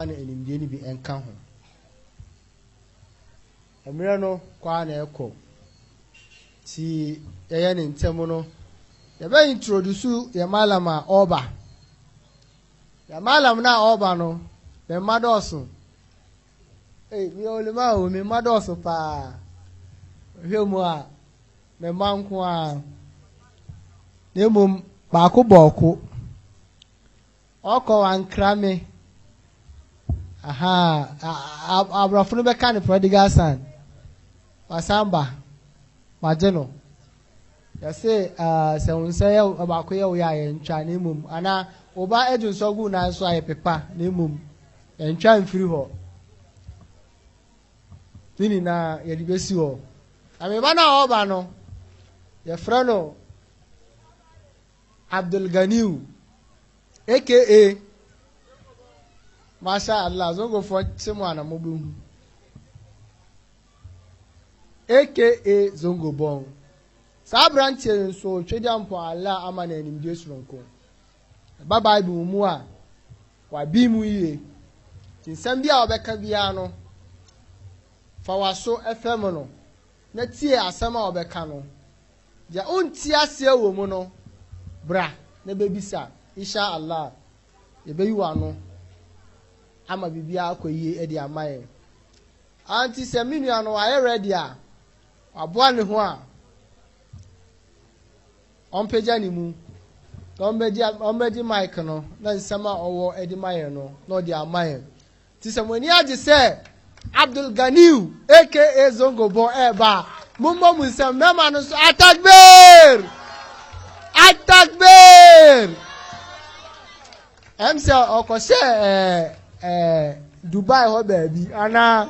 a na nimdeɛ no bi nka ho. Mmerɛ no kɔ ara na ɛkɔ, nti yɛyɛ no ntɛm no, yɛbɛ introduce yɛn malam a ɔreba. Yɛn malam no a ɔreba no, me mma dɔɔso. Ei, meyɛ olema o, me mma dɔɔso paa. Hwɛ mu a, me mma nko ara. Na mmom, baako bɔɔko. Ɔkɔ wankra me ahaa abrɔfo no bɛka no prodigal son wasan ba magye no yɛse sɛ wo nsa yɛ baako yɛ wo yɛ a yɛntwa na mmom anaa wo ba adi nsɔ gu nan so a yɛpepa na mmom yɛntwa mfiri hɔ ne nyinaa yɛde bɛsi hɔ na meba no a ɔba no yɛfrɛ no Abdulganiyu aka Masha Allah zongofoɔ te mo ana mobɛhu aka zongo bɔn saa aberanteɛ yi nso twɛdwa mpo Allah ama no animdie soronko ɛba bible mu a wabi mu yie nti nsɛm bi a wɔbɛka biara no fa waso ɛfɛ mu no na tie asɛm a wɔbɛka no Deɛ wonte aseɛ wɔ mu no, bra na bɛbisa. Insha Allah, yɛbɛyi w'ano ama biribiara akɔ yie de ama yɛn. Auntie, sɛ me nua no wayɛ ready a, waboa ne ho a, ɔmpagya ne mu na ɔmmɛgye mic no na nsɛm a ɔwɔ de ma yɛn no na ɔde ama yɛn. Nti sɛ mo ani agye sɛ Abdul Ganiyu aka Zongo bɔ ɛɛba a, mommɔ mo nsam mɛma no nso Atakbir! Atakbir! Ɛm sɛ ɔkɔhyɛ ɛɛ ɛɛ Dubai hɔ baabi anaa?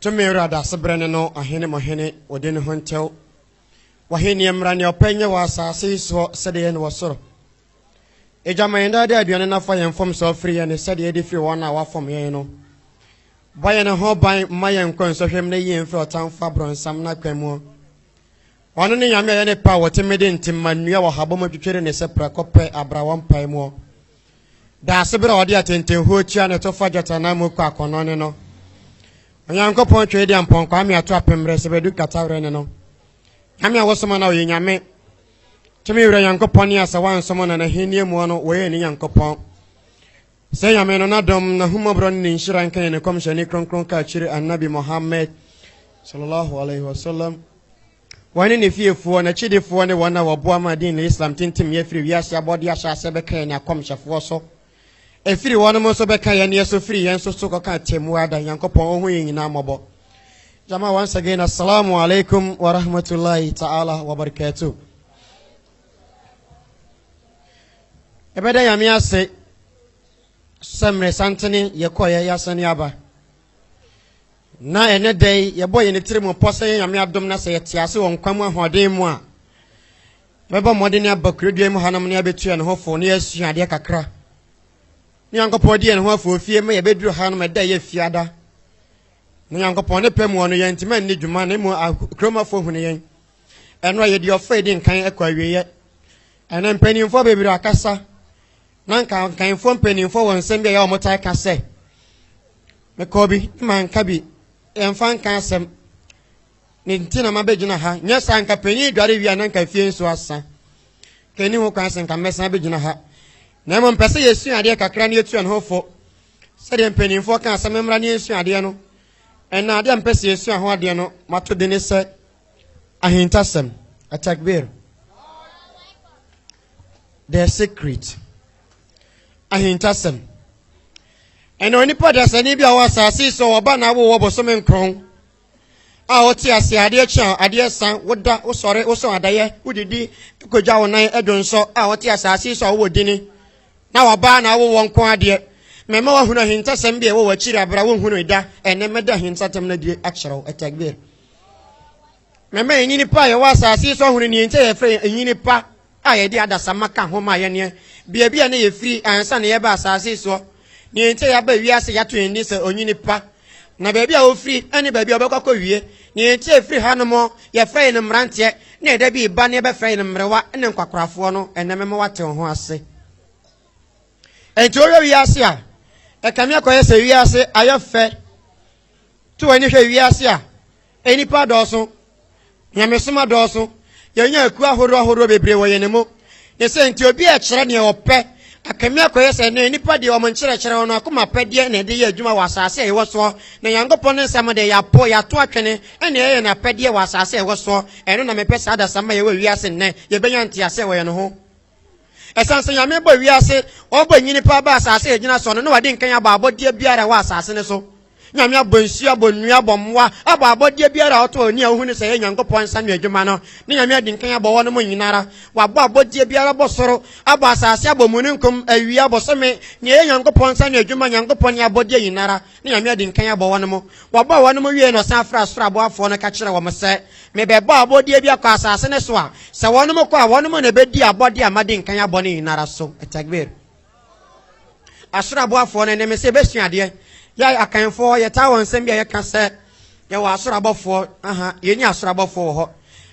Tumi Wura Daasebrɛ ne no Ɔhene mo Hene Ɔdi ne ho ntɛw W'ahenniɛ mmra Nea Ɔpɛ nyɛ wɔ asaase yi soɔ sɛdeɛ ɛyɛ no wɔ soro Agya ma yɛn daa daa aduane na fa yɛn mfomsoɔ firi yɛn ne sɛdeɛ yɛde firi wɔn a wɔafom yɛn no Bɔ yɛn ho ban mma yɛn nkɔ nsɔhwɛm na yi yɛn firi ɔtamfo abrɔnsam no akwan muo Ɔno ne Nyame a ɛyɛ ne pɛ a ɔte mmeden nti mma nnua wɔ habɔ mu atwitwiri ne sɛ prɛko pɛ abra wɔ mpaemuo. Daasebrɛ a ɔde atentenhuo tua na ɛtɔ fo agyatanan mu kɔ akɔnnɔ ne no. Onyankopɔn twɛ edi ampɔnkɔ ame ato apemmerɛ sɛ bɛdu katawerɛ ne no. Nyame a wɔsoma no a ɔyɛ Nyame. Tumi wura Nyankopɔn ne asɛ wansom na n'ahennie muɔ no wɔyɛ ne Nyankopɔn. Sɛ Nyame no n'adom, n'ahummɔborɔ ne ne nhyira nka yɛn ne kɔmhyɛni kronkron kaakyire Annabi Mohammed sallallahu alaihi wasallam. Wɔne ne fiefoɔ, n'akyidifoɔ ne wɔn a wɔboa ma Deen al-Islam tintimyɛ firi wiase abɔdeɛ ahyɛaseɛ bɛka yɛne akɔmhyɛfoɔ so. Ɛfiri wɔnom nso bɛka yɛneɛ so firi yɛn nso so kɔka atɛmmuo ada, Nyankopɔn Ɔhu yɛn nyinaa mmɔbɔ. Jama once again, Assalamu alaikum wa rahmatullahi ta'ala wa barakatuh. Ɛbɛda Nyame ase sɛ mmerɛ santene yɛkɔeɛ yɛasane aba. Na ɛnnɛ da yi, yɛbɔ yɛn tiri mu pɔ sɛ yɛn Nyame adom na sɛ yɛte ase wɔ nkwa mu ahoɔden mu a, yɛbɛbɔ mmɔden aba kurodua yi mu hanom na yɛabɛtu yɛn ho fo na yɛasua adeɛ kakra. Ne Nyankopɔn di yɛn ho afoofie ma yɛbɛduru hanom ɛda a ɛyɛ fiada. Na Nyankopɔn ne pɛ mu wɔ no, yɛantumi anni dwuma na mmom akuromafoɔ hunu yɛn. Ɛno a yɛdi ɔfrɛ di nkan kɔ awieɛ. Ɛnɛ mpanimfoɔ bebree akasa. na nka nkanfoɔ mpanimfoɔ wɔ nsɛm bi a ɛyɛ wɔtaa ka sɛ mekɔɔ bi na manka bi yɛmfa nka asɛm ne nti na mabɛgyina ha nyɛ saa nka panyin dware wie a na nka fie nso asa ka ɛni ho kwan sɛ nka mmɛsan bɛgyina ha na mmom mpɛ sɛ yɛsua adeɛ kakra ne yɛtua ne ho fo sɛdeɛ mpanimfoɔ ka asɛm mmra ne yɛsua adeɛ no ɛna adeɛ a mpɛ sɛ yɛsua ho adeɛ no mato de ne sɛ ahintasɛm atakbir The Secret, Ahintasɛm. Ɛna onipa dasani bi a ɔwɔ asase so a ɔba na awo wɔ bosome nkron a ɔte ase adeɛ kye a adeɛ san woda wosɔre wosɔ adayɛ wodidi kogya wo nan ɛdo nsɔ a ɔte asase so a ɔwɔ dini na ɔba na awo wɔ nko adeɛ mɛma wahunu ahintasɛm bi a ɛwɔ w'akyiri abra wohunu da ɛne mɛda ahintasɛm no adie akyerɛw ɛtɛgbeɛ Mɛma enyini pa a yɛwɔ asase yi so ahunu nea enti a yɛfrɛ yɛn enyini pa a yɛde adasamma ka ho ma yɛne baabi a na yɛfiri ansa na yɛreba asase yi soɔ, nea enti a yɛaba wiase yɛato yɛn din sɛ onyini pa, na baabi a wɔfiri ne baabi a wɔbɛkɔ akɔwie, nea enti a ɛfiri hanom yɛfrɛ yɛn mmeranteɛ na ɛda bi reba na yɛbɛfrɛ yɛn mmerewa ne nkwakorafoɔ no, ɛnnɛ mɛma woate wo ho ase. Enti wohwɛ wiase a, ɛkame akɔyɛ sɛ wiase ayɛ fɛ To w'ani hwɛ wiase a nnipa adɔɔso, nyamesom adɔɔso, yɛanya akuo ahoroɔ ahoroɔ bebree wɔ yɛn mu. Ne sɛ nti obi a ɛkyerɛ deɛ ɔpɛ, akame akɔyɛ sɛ nnɛ nnipa deɛ wɔn nkyerɛkyerɛ wɔn akoma pɛdeɛ na ɛde yɛ adwuma wɔ asase a yɛwɔ soɔ. Na Nyankopɔn ne nsɛm deɛ yɛapo, yɛato atwene, ɛna ɛyɛ n'apɛdeɛ wɔ asase a yɛwɔ soɔ. Ɛno na mepɛ saa adasamma a yɛwɔ wiase nnɛ, yɛbɛnya nteaseɛ wɔ yɛn ho. Esiane sɛ Nyame bɔɔ wiase, ɔbɔɔ nyini paa baa asase a ɛgyina soɔ no, na wade nkan abɔ abɔdeɛ biara a ɛwɔ asase no so. Nyame abɔ nsuo, abɔ nnua, abɔ mmoa, abɔ abɔdeɛ biara a ɔtɔ ani a ɔhunu sɛ ɛyɛ Nyankopɔn nsa ano adwuma no, na Nyame adi nkan abɔ wɔnom nyina ara. Wabɔ abɔdeɛ biara, abɔ soro, abɔ asase, abɔ mununkum, awia, bosome, nea ɛyɛ Nyankopɔn nsa ano adwuma, Nyankopɔn ne abɔdeɛ nyina ara. na Nyame adi nkan abɔ wɔnom. Wɔbɔɔ wɔnom wiei na ɔsan frɛɛ Soro aboafoɔ no ka kyerɛɛ wɔn sɛ, Mebɛbɔɔ abɔdeɛ bi akɔ asase no so a, sɛ wɔnom kɔ a, wɔnom na ɛbɛdi abɔdeɛ a madi nkan abɔ no nyinara so. Takbir! Asoro aboafoɔ no ne me sɛ yɛbɛsua adeɛ. Yɛ Akanfoɔ, yɛtaa wɔ nsɛm bi a yɛka sɛ yɛwɔ asoro abɔfoɔ, aha, yɛnni asoro abɔfoɔ wɔ hɔ.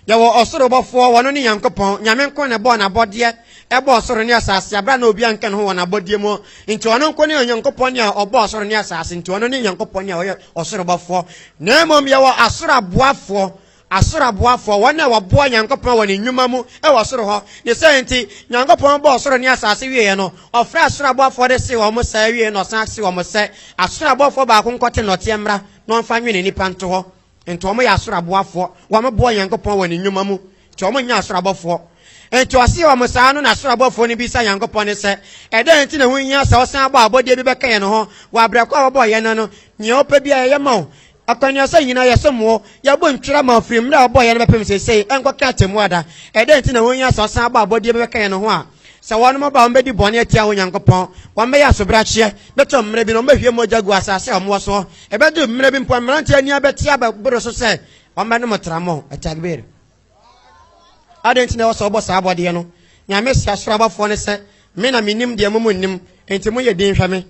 Yɛwɔ ɔsoro bɔfoɔ, ɔno ne Nyankopɔn. Nyame nko na ɛbɔɔ n'abɔdeɛ, ɛbɔɔ soro ne asaase, aberɛ a na obiara nka ne ho wɔ n'abɔdeɛ mu. Nti ɔno nko ne Onyankopɔn a ɔbɔɔ soro ne asaase, nti ɔno ne Nyankopɔn a ɔyɛ ɔsoro bɔfoɔ. Na mmom yɛwɔ asoro aboafoɔ, asoro aboafoɔ, wɔn a wɔboa Nyankopɔn wɔ ne nnwuma mu wɔ soro hɔ. Ne saa nti, Nyankopɔn bɔɔ soro ne asaase wieɛ no, ɔfrɛɛ asoro aboafoɔ de see wɔn saa, awiei no ɔsan see wɔn sɛ, Asoro aboafoɔ baako nkɔte nnɔteɛ mmra na ɔmfa nwene nnipa nto hɔ. nti wɔn yɛ asoro aboafoɔ wɔn boɔ nyankopɔn wɔ ne nnwuma mu nti wɔn nyɛ asoro abɔfoɔ nti ɔse wɔn saa no na asoro abɔfoɔ no bisa nyankopɔn ne sɛ ɛdɛn nti na ho hia sɛ ɔsan abɔ abɔdeɛ bi bɛka yɛn ho wɔ abrɛ kɔ a wɔbɔɔ yɛn no no nea ɔpɛ bi a yɛyɛ ma wo akwanuasa nyinaa yɛsom wo yɛbɔ ntwira ma ɔfiri mmerɛ a ɔbɔɔ yɛn no bɛpem seesei ɛnkɔka atemmu ada ɛdɛn nti na ho hia sɛ ɔsan abɔ abɔdeɛ bi bɛka yɛn ho a Sɛ wɔnom aba a, wɔbɛdi bɔne atia wo Nyankopɔn, wɔbɛyɛ asobrakyeɛ, bɛtɔ mmerɛ bi na wɔbɛhwie mogya agu asaase a wɔwɔ soɔ, ɛbɛduru mmerɛ bi mpo a mmeranteɛ ani abɛte abɛboro so sɛ wɔbɛnom tramo. Atakbir! Adɛn nti na ɛwɔ sɛ wɔbɔ saa abɔdeɛ no? Nyame se asoro abɔfoɔ no sɛ, Me na menim deɛ mo monnim, enti moyɛ dinn hwɛ me.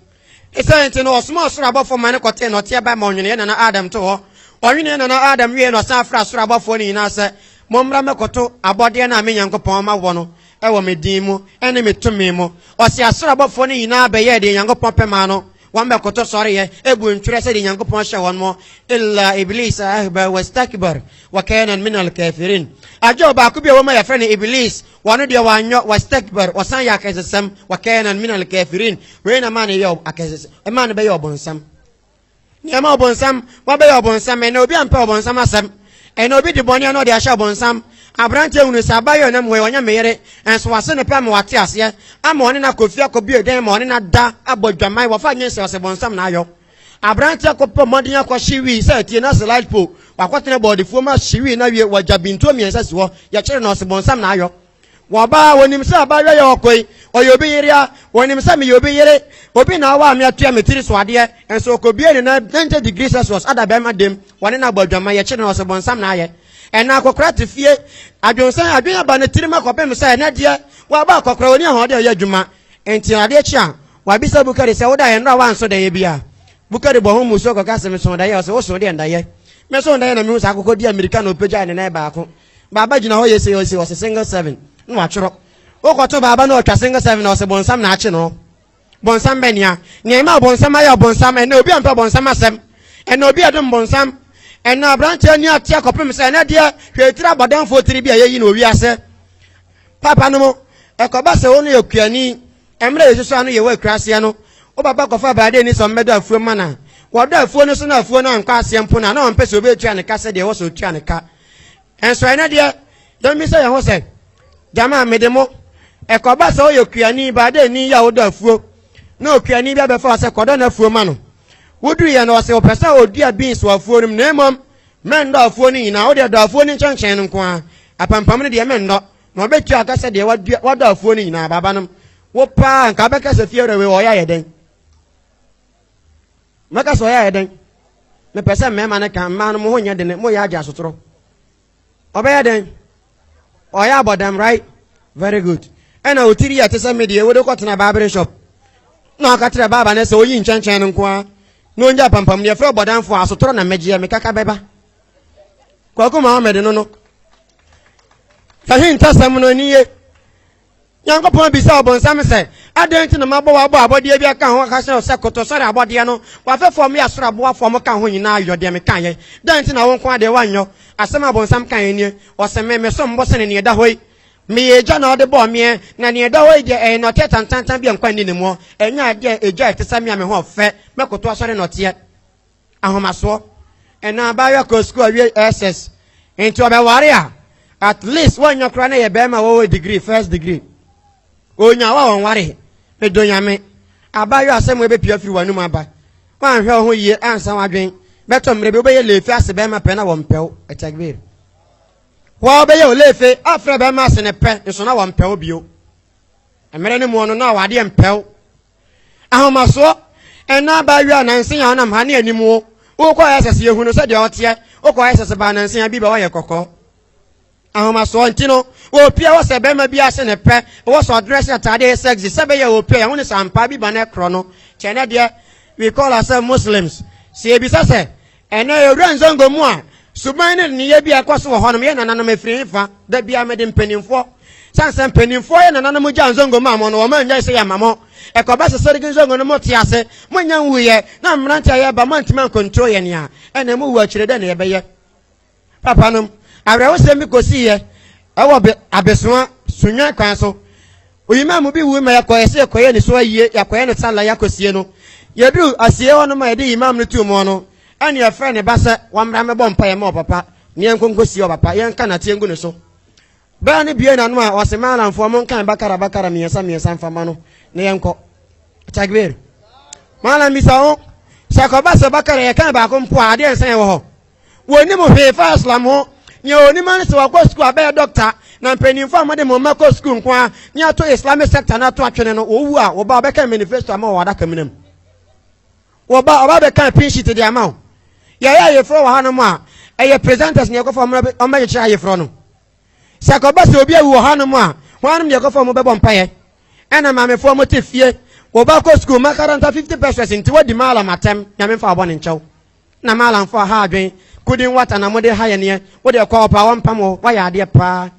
Esiane nti no, ɔsomaa ɔsoro abɔfoɔ ma no kɔtee nɔteɛ bae ma ɔnwenee nana Adam to hɔ. Ɔnwenee nana Adam wieeɛ no, ɔsan frɛɛ soro abɔfoɔ no nyinaa sɛ, Mommra mmɛkɔto abɔdeɛ no a me Nyankopɔn ama wɔ no wɔ me din mu ne me tumi mu. Ɔse asoro abɔfoɔ no nyinaa bɛyɛɛ deɛ Nyankopɔn pɛ maa no, wɔn bɛkoto sɔreeɛ, ɛbuu ntwerɛ sɛdeɛ Nyankopɔn hyɛ wɔn mo, illa iblisa ahba wastakbar wakana minal kafirin, agye ɔbaako bi a ɛwɔ mu a yɛfrɛ no Iblis, Wɔn deɛ wɔanyɔ, wastakbar, ɔsan yɛ akɛsesɛm, wakɛɛnan min alkafirin, wei na maa no yɛ akɛsesɛm, ɛmaa no bɛyɛ ɔbonsam. Nneɛma ɔbonsam, wabɛyɛ ɔbonsam, ɛnna obi ampɛ ɔbonsam asɛm, ɛnna obi de bɔne na ɔde ahyɛ ɔbonsam. Aberanteɛ hunu sɛ abayewa nam wei ɔnyɛ me yere, nso wase ne pɛ ama wate aseɛ, ama ɔne no akɔfie akɔbue dan ma ɔne no ada abɔ dwaman, wɔfa nye sɛ ɔsɛ bonsam na ayɔ. Aberanteɛ kɔ pɔ mmɔden akɔ hye wii sɛ atie na se light pole wakɔ tena bɔɔdefuo mu ahye wii na wie wagya bintuo mmiɛnsa si hɔ yɛkyere no ɔse bonsam na ayɔ wɔ baa onim sɛ abaayewa yɛ ɔkoi ɔyɛ obi yere a onim sɛ meyɛ obi yere obi na awaa me atua me tiri so adeɛ nso ɔkɔbie ne nan 90 degree celsius ada bɛrima dem wɔne no abɔ adwama yɛkyere no ɔse bonsam na ayɛ ɛna akɔkora te fie adwonsɛn adwen aba ne tirim akɔpem sɛ ɛnɛ deɛ waba akɔkora ɔni ahoɔden ɔyɛ adwuma nti adeɛ kye a Wɔabisa Bukari sɛ, Wodaeɛ no a woansɔ daeɛ biara? Bukari bɔ ho mmusuo kɔka sɛ, Mesoo daeɛ. Ɔse, Wosoo deɛn daeɛ? Mesoo daeɛ na mehu sɛ akokɔ di ammirika na ɔpagyae ne nan baako. Baaba gyina hɔ yese yese, ɔse single seven, na watwerɛ. Wokɔto baaba na ɔtwa single seven a, ɔse bonsam na akye no. Bonsam bɛn ya? Nea ɛmaa bonsam ayɛ ɔbonsam, ɛnnɛ obi ampɛ bonsam asɛm. Ɛnnɛ obi adom bonsam. Ɛnnɛ aberanteɛ ani ateɛ kɔpem sɛ ɛnnɛ deɛ hwɛ etiri abɔdamfoɔ tiri bi a yɛyi no wɔ wiase papanom. Ɛkɔba sɛ wo no yɛ kuani. Mmerɛ a yɛsusu ano yɛ wɔ akura aseɛ no, wo papa kɔfaa bradeni sɛ ɔmmɛdɔ afuom ma no a, wɔdɔ afuo no so na afuo no ankɔ aseɛ mpo no a, na ɔmpɛ sɛ obi tua ne ka sɛdeɛ ɛwɔ sɛ ɔtua ne ka. Nso ɛnnɛ deɛ, yɛmmisa yɛn ho sɛ, Gyama, mede mo, ɛkɔba sɛ woyɛ okuani, bradeni yi a wodɔ afuo, na okuani bi abɛfa wo sɛ kɔdɔ no afuo ma no. Woduruiɛ no, ɔse ɔpɛ sɛ ɔdua beans wɔ afuo no mu, na mmom, mɛnnɔ afuo no nyinaa, wodeɛ dɔ afuo no nkyɛnkyɛn no nko ara, apampam no deɛ mennɔ. Na ɔbɛtua aka sɛ deɛ wadɔ afuo no nyinaa baaba nom wo paa nka bɛka sɛ fie wura wei ɔyɛ ayɛ dɛn mɛka sɛ ɔyɛ ayɛ dɛn mepɛ sɛ mmarima no ka mmaa no mo ho nyɛ dene moyɛ agye asotorɔ ɔbɛyɛ dɛn ɔyɛ abɔdam right very good ɛna ɔtiri yɛ te sɛ medeɛ wode kɔtena baabere shop na ɔka kyerɛ baaba no sɛ ɔyi nkyɛnkyɛn no nko a na ɔnya pampam ne ɛfrɛ ɔbɔdamfoɔ asotorɔ na mmɛgyeɛ mekaka bɛba kwaku mohammed no no sɛhe ntasɛm no ani ye nyankopɔn bisa ɔbonsam sɛ adɛn nti na mabɔ wabɔ abɔdeɛ bi aka ho aka sɛ sɛ koto sɔre abɔdeɛ no wafɛ fam yɛ asoro aboa fam ka ho nyinaa yɔ deɛ meka yɛ dɛn nti na wo nko adeɛ wanyɔ asɛm a bonsam ka yɛ nie ɔsɛ me me som bo sene neɛ da hɔ yi meyɛ agya na ɔde bɔɔ meɛ na neɛ da hɔ yi deɛ ɛyɛ nɔteɛ tantantan bi a nkwa nni ne muɔ ɛnyɛ adeɛ agya ɛte sɛ me a me ho ɔfɛ mɛkoto asɔre nɔteɛ ahomasoɔ ɛna abaayewa kɔ sukuu awie ss nti ɔbɛware a at least wɔnyɛ koraa na yɛ bɛrima wɔwɔ degree first degree onya wa wɔn ware medo nyame abaayewa asɛm ɛbɛpia firi wɔn anum aba wɔanhwɛ wo ho yie ansa wadwen bɛtɔ mmerɛ bi wobɛyɛ leefi ase bɛrima pɛ na wɔn pɛw ɛtɛgbir wɔn bɛyɛ wo leefi afrɛ bɛrima ase ne pɛ nso na wɔn pɛw bio mmerɛ ne muɔ no na wɔadeɛ mpɛw ahomasoɔ ɛna aba awie a nanse a ɔnam ha ne anim wo wokɔ ayɛ sɛse yɛhu no sɛdeɛ ɔteɛ wokɔ ayɛ sɛse baa nanse a bi bɛ wɔyɛ kɔkɔ ahomasoɔ nti no wɔpia wɔ sɛ bɛrima bi ase ne pɛ wɔ sɛ ɔdrɛ sɛ ataade yɛ sɛgse sɛ bɛyɛ wɔpia yɛho ne sampa bi ba no ɛkorɔ no kyɛ ne deɛ we call ourselves muslims sɛ yɛbisa sɛ Ɛnnɛ yɛwura Nzongo mu a, suban ne nneyɛɛ bi a ɛkɔ so wɔ hɔnom yɛ nananom afiri he fa? Da biaa mede mpaninfoɔ, sane sɛ mpaninfoɔ yɛ nananom gyaa Nzongo maa mo no, wɔn annyae sɛ yɛma mo. Ɛkɔba sɛ Sergi Nzongo no mote ase, moannya nwuiɛ, na mmerante a yɛreba moantumi ankontro yɛn a, ɛnna mowu akyire dɛn na yɛbɛyɛ? Papanom, awerɛhosɛm bi kosiiɛ wɔ bɛ abɛsoa sunnwan kwan so. Oyimaa mu bi wui ma yɛkɔeɛ sɛ yɛkɔyɛ ne so ayie, yɛakɔyɛ no salla, yɛakɔsie no. Yɛduru asieɛ hɔ no ma yɛde Imam no tuu moɔ no, ɛne yɛfrɛɛ ne ba sɛ wammra mmɛbɔ mpaeɛ mma ɔpapa na yɛnkɔ nkɔsie ɔpapa, yɛnka nnateɛ ngu ne so. Bɛrɛ no buee n'ano a ɔse, Maalamfoɔ, monkan Bakara Bakara mmiɛnsa mmiɛnsa mfa mma no na yɛnkɔ. Takbir. Maalam bisa ho sɛ kɔba sɛ Bakara yɛkan baako mpo a adeɛ nsa yɛn wɔ hɔ? wɔnni mo hwee fa Islam ho. Nea onim ara ne sɛ wakɔ sukuu abɛyɛ dɔkta, na mpanyimfo a mode mo mma kɔ sukuu nko ara ne ato Islamic sector no ato atwene no, wɔwu a, wo ba ɔbɛkan manifesto ama wo wɔ adakamena mu. Wo ba ɔba bɛkan pin sheet de ama wo. Yɛyɛ ayeforɔ wɔ hanom a, ɛyɛ presenters na yɛkɔfa wɔn bɛ- wɔn bɛkyekyere ayeforɔ no. Sɛ ɛkɔba sɛ obi awu wɔ hanom a, hɔnom na yɛkɔfa wɔn bɛbɔ mpaeɛ. Ɛna maamefoɔ mote fie, wo ba kɔ sukuu, makaranta 50 pesos nti woadi maalam atɛm, Nyame mfa wo bɔne nkyɛ wo. Na Maalamfo aha adwen. Kudi nwata na mode ha yɛ neɛ. Wo deɛ kɔ ɔpɛ a wɔmpam wo. Woayɛ adeɛ paa.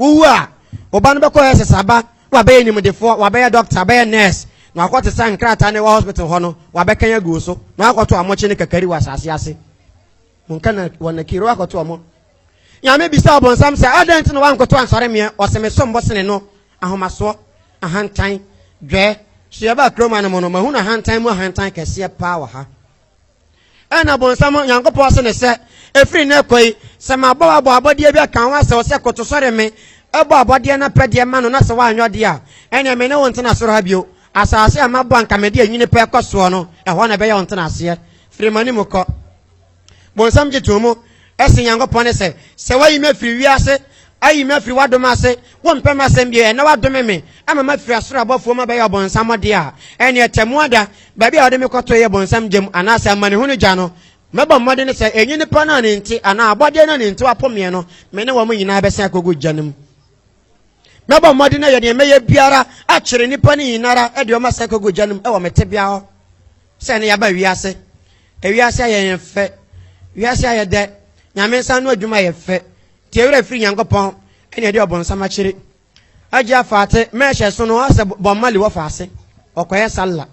Wowu a, wo ba no bɛkɔ SS aba na wabɛyɛ animdefoɔ, wabɛyɛ doctor, abɛyɛ nurse, na wakɔte saa nkrataa no ɛwɔ hospital hɔ no, wabɛkan agu wo so, na wakɔto amokye ne kakari wɔ asase ase. Monka na wɔ nakiro wakɔto ɔmo. Nyame bisa ɔbonsam sɛ, adɛn nti na wankoto ansɔre meɛ, ɔse mesom bo sene no, Ahomasoɔ, ahantan, dwɛɛ. So yɛbaa kurom ha no mu no mahunu ahantan mu ahantan kɛseɛ paa wɔ ha. Ɛna bonsam Nyankopɔn ase ne sɛ, ɛfiri nnɛ kɔ yi, sɛ mabɔ wo abɔ abɔdeɛ bi aka wo ho asɛ wo sɛ koto sɔre me, bɔ abɔdeɛ no apɛdeɛ ma no na sɛ woanyɛ ɔdeɛ a, ɛneɛ me ne wo ntena soro ha bio. Asaase a mabɔ a anka mede anwini pɛ kɔ soɔ no, ɛhɔ na ɛbɛyɛ wo ntenaseɛ. Firi m'anim kɔ. Bonsam gye too mu sen Nyankopɔn ne sɛ, sɛ woayi me afiri wiase, ayi me afiri w'adom ase, wompɛ m'asɛm bio, ɛnnɛ woadome me ama mafiri asoro abɔfoɔ mu abɛyɛ ɔbonsam dea a, ɛnneɛ Tɛmmuada, baabi a wode me kɔtoeɛ yɛ bonsam gya mu, anaasɛ amanehunu gya no, mɛbɔ mmɔden sɛ ɛnyɛ nnipa no a ne nti, anaa abɔdeɛ no a ne nti woapo meɛ no, me ne wɔn nyinaa bɛsan akɔgu gya no mu. Mɛbɔ mmɔden ayɛ deɛ mɛyɛ biara akyere nnipa no nyinara de wɔn asan akɔgu gya no mu wɔ me tebea hɔ. Sɛ nnɛ yɛaba wiase, wiase ayɛ yɛn fɛ, wiase ayɛ dɛ, Nyame nsa ano adwuma yɛ fɛ, nti yɛ werɛ firi Nyankopɔn na yɛde ɔbonsam akyere. Agya Faate, mɛɛhyɛ so no ɔsɛ Bob Marley wɔ faase, ɔkɔyɛ Sallah.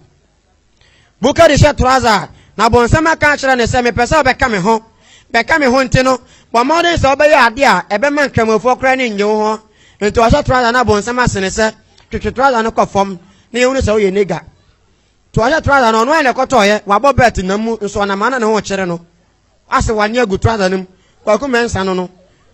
Bukari hyɛ trouser na ɔbonsam aka akyerɛ no sɛ mepɛ sɛ ɔbɛka me ho, bɛka me ho nti no bɔ mmɔden sɛ wobɛyɛ ade a ɛbɛma Nkramofoɔ koraa ani nnye wo ho, nti ɔhyɛ trouser na ɔbonsam ase no sɛ twetwe trouser no kɔ fam na yɛhunu sɛ woyɛ nigga. Toahyɛ trɔsa no ɔno ara na ɛkɔtɔɔeɛ, wabɔ bɛlt nam mu nso ɔnam ha na ne ho rekyere no, asɛ wani agu trɔsa no mu, Kwaku Mensah no no,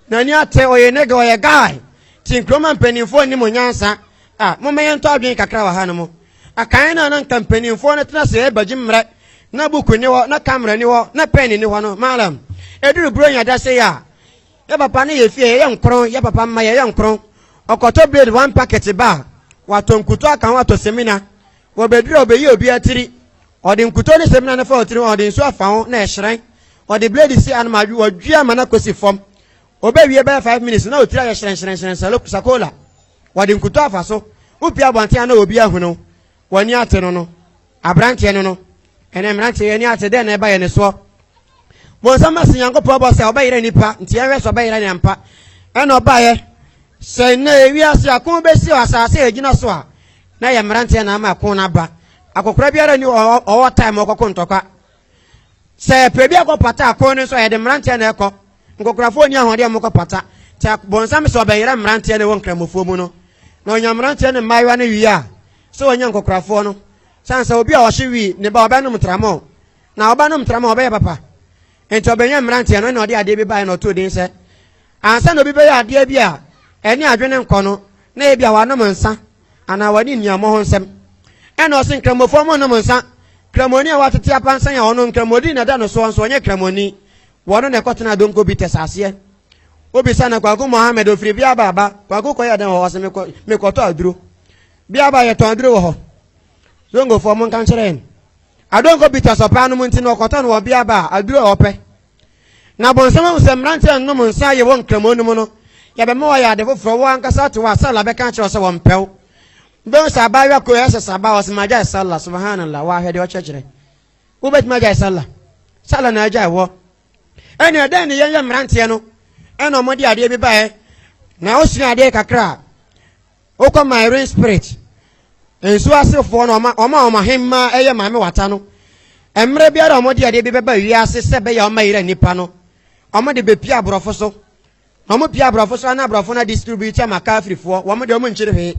n'ani ate, ɔyɛ nega, ɔyɛ guy, nti Nkrumah mpaninfoɔ nni mo nyansa, ah, momma yɛntɔ adwene kakra wɔ hanom, akan no a na nka mpaninfoɔ no tena ase ɛbagye mmerɛ, na buku nni hɔ, na camera nni hɔ, na pen nni hɔ no, Mallam, ɛduru Buronya da sei a, yɛ papa ne yɛfie yɛyɛ nkron, yɛ papa mma yɛyɛ nkron, ɔkɔtɔ blade one packet ba a, watɔ nkutu aka ho atɔ semina, Wɔ baabi a ɔbɛyi obi atiri. Ɔde nkutoo ne samina no fa wo tiri ho a, ɔde nsu afa ho na ɛhyerɛn. Ɔde blade si ano ma awe, ɔdwe ama no akɔsi fam. Ɔbɛwie bɛyɛ five minutes na wo tiri ayɛ hyerɛnhyerɛnhyerɛn sɛ sakola. Wɔde nkutoo afa so. Wopue abɔnten a na obi ahunu wo. W'ani ate no no. Aberanteɛ no no. Ɛnɛ mmeranteɛ, yɛn ani ate. Dɛn na ɛba yɛn soɔ? bonsam na sɛ nyankopɔn bɔ sɛ ɔbɛyerɛ nipa nti yɛhwɛ sɛ ɔbɛyerɛ ne ampa ɛna ɔbaeɛ sɛ nnɛ ewiase ako bɛsi wɔ asase a ɛgyina so a na yɛ mmeranteɛ na ama ako no aba akɔkora biara ni ɔwɔ time ɔkɔko ntɔkwa sɛ ɛpɛ bi akɔ pata ako no nso yɛde mmeranteɛ na ɛkɔ nkɔkorafoɔ ni ahoɔdeɛ a mokɔ pata sɛ bonsam sɛ ɔbɛyerɛ mmeranteɛ na ɛwɔ nkramofoɔ mu no na ɔnya mmeranteɛ ne mmaayewa no wie a sɛ ɔnya nkɔkorafoɔ no sane sɛ obi a ɔhye wii ne ba ɔbɛnom tramɔ Na ɔbanom tra ma ɔbɛyɛ papa. Enti ɔbɛyɛ mmeranteɛ no, ɛna ɔde adeɛ bi baeɛ na ɔtoo din sɛ, ansa na obi bɛyɛ adeɛ bi a ɛne adwene nkɔ no, na ebi a wanom nsa anaa wadi nnuammɔ ho nsɛm. Ɛna ɔse nkramofoɔ mo nnom nsa. Kramoni a watete apansan a ɔnom nkramodi na ɛda no soɔ nso ɔnyɛ kramoni. Wɔno na ɛkɔtenaa Donko Bites aseɛ. Wobisa no Kwaku Mohammed ofiri Biaba aba. Kwaku kɔyɛ dɛn wɔ hɔ? Ɔse mekɔ mekɔtɔ aduro. Biaba yɛtɔn aduro wɔ hɔ. Zongofoɔ monka nkyerɛ yɛn. Adonkor bitters ɔpɛ anom nti na ɔkɔtɔ no wɔ ɔbea ba a aduru a ɔpɛ. Na Abɔnsam ahu sɛ mmerante a nnom nsa a yɛwɔ Nkramoa no mu no yɛ bɛma wɔayɛ ade foforɔ, wɔn ankasa ate wɔ a Salla bɛka akyerɛ wo sɛ wɔmpɛ wo. Wobɛhu sɛ abaayewa koro yɛ sɛ Saba ɔse magyae Salla, Subhanallah, wɔ ahwɛ deɛ ɔkyerɛkyerɛ. Wobɛtumi agyae Salla? Salla na agyae wɔ. Ɛnna dɛn ne yɛn yɛ mmeranteɛ no ɛna wɔde adeɛ bi baeɛ na wosua adeɛ kakra a Wokɔ Marine Spirit nsuo asefoɔ no, wɔn a wɔn ahemmaa yɛ Maame Wata no, mmerɛ biara a wɔde adeɛ bi bɛba wiase sɛ ɛbɛyɛ a wɔbɛyera nnipa no, wɔde bɛpia aborɔfo so. Na wɔpia aborɔfo so a na aborɔfo no adistribute ama Kafirifoɔ. Wɔn deɛ wɔnkyere hwee.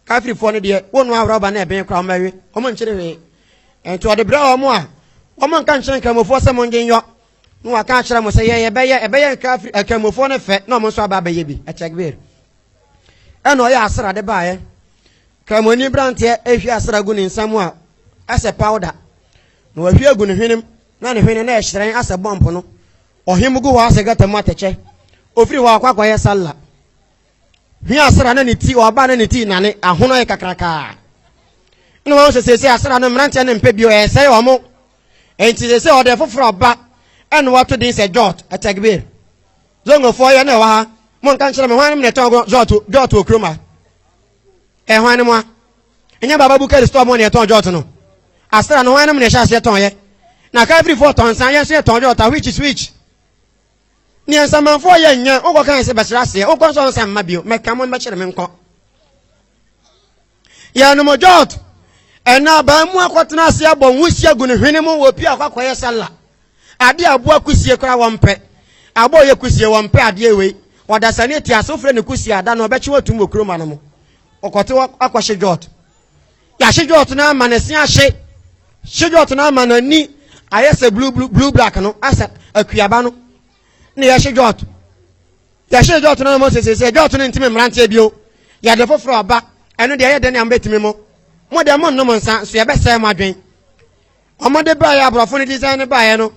Kafirifoɔ no deɛ, wonoa rɔba na ɛben koraa wɔbɛwe. Wɔnkyere hwee. Nti wɔde brɛ wɔn a, wɔn nka nkyerɛ nkramofoɔ sɛ mongye nyɔ. Na wɔaka akyerɛ mo sɛ yɛn yɛbɛyɛ, ɛbɛyɛ nkafiri nkramofoɔ no fɛ na wɔn nso aba abɛyɛ bi. Ɛkyɛgbir. ɛna ɔyɛ asra de baeɛ kramoni beranteɛ ɛhwie asra gu ne nsa mu a ɛsɛ powder na wahwie agu ne hwenem na ne hwene na ɛhyerɛn asɛ bɔmpo no ɔhem gu hɔ asɛ gata mu atɛkyɛ ofiri hɔ akɔ akɔyɛ salla hwi asra na ne ti ɔba na ne ti nane ahono yɛ kakrakaa na wɔn sɛ sɛsɛ asra no mmeranteɛ no mpɛ bio ɛsɛe wɔn ɛnti sɛsɛ ɔde foforɔ ba ɛna wato din sɛ jot ɛtɛgbir Zongofoɔ yɛ na ɛwɔ ha monka nkyerɛ me hwan nom na ɛtɔn gɔ jɔɔto jɔɔto wɔ kurom ha ɛ hwan nom a ɛnyɛ baba bukari store mo na ɛtɔn jɔɔto no asra no hwan nom na ɛhyɛ aseɛ tɔn yɛ na kafirifoɔ tɔn nsa yɛn nso yɛtɔn jɔɔto which is which neɛ nsamanfoɔ yɛ nyɛ wokɔ kan sɛ bɛsrɛ aseɛ wokɔ nso ɔnsa mma bio mɛka mo mbɛkyerɛ me nkɔ Yɛnom jot ɛna abaa mu akɔtena ase abɔ nwosia gu ne hwene mu wɔ pie akɔ akɔyɛ sala ade aboa kusie koraa wɔmpɛ abɔ yɛ kusie wɔmpɛ adeɛ wei ɔdasani eti ase wofrɛ ne kusie ada na ɔbɛkye watum wɔ kuroma no mu ɔkɔte akɔhye jot yɛahye jot no ama ne se ahye hye jot no ama n'ani ayɛ sɛ blue blue blue black no asɛ akuaba no na yɛhye dwɔɔto yɛhye dwɔɔto no na mose sɛ sɛ dwɔɔto no ntimi mmeranteɛ bio yɛde foforɔ ɔba ɛno deɛ ɛyɛ dɛn ne amobɛtumi mo mo deɛ mo nnom nsa so yɛbɛsɛe mo adwen ɔmode baeɛ aborɔfo no design no baeɛ no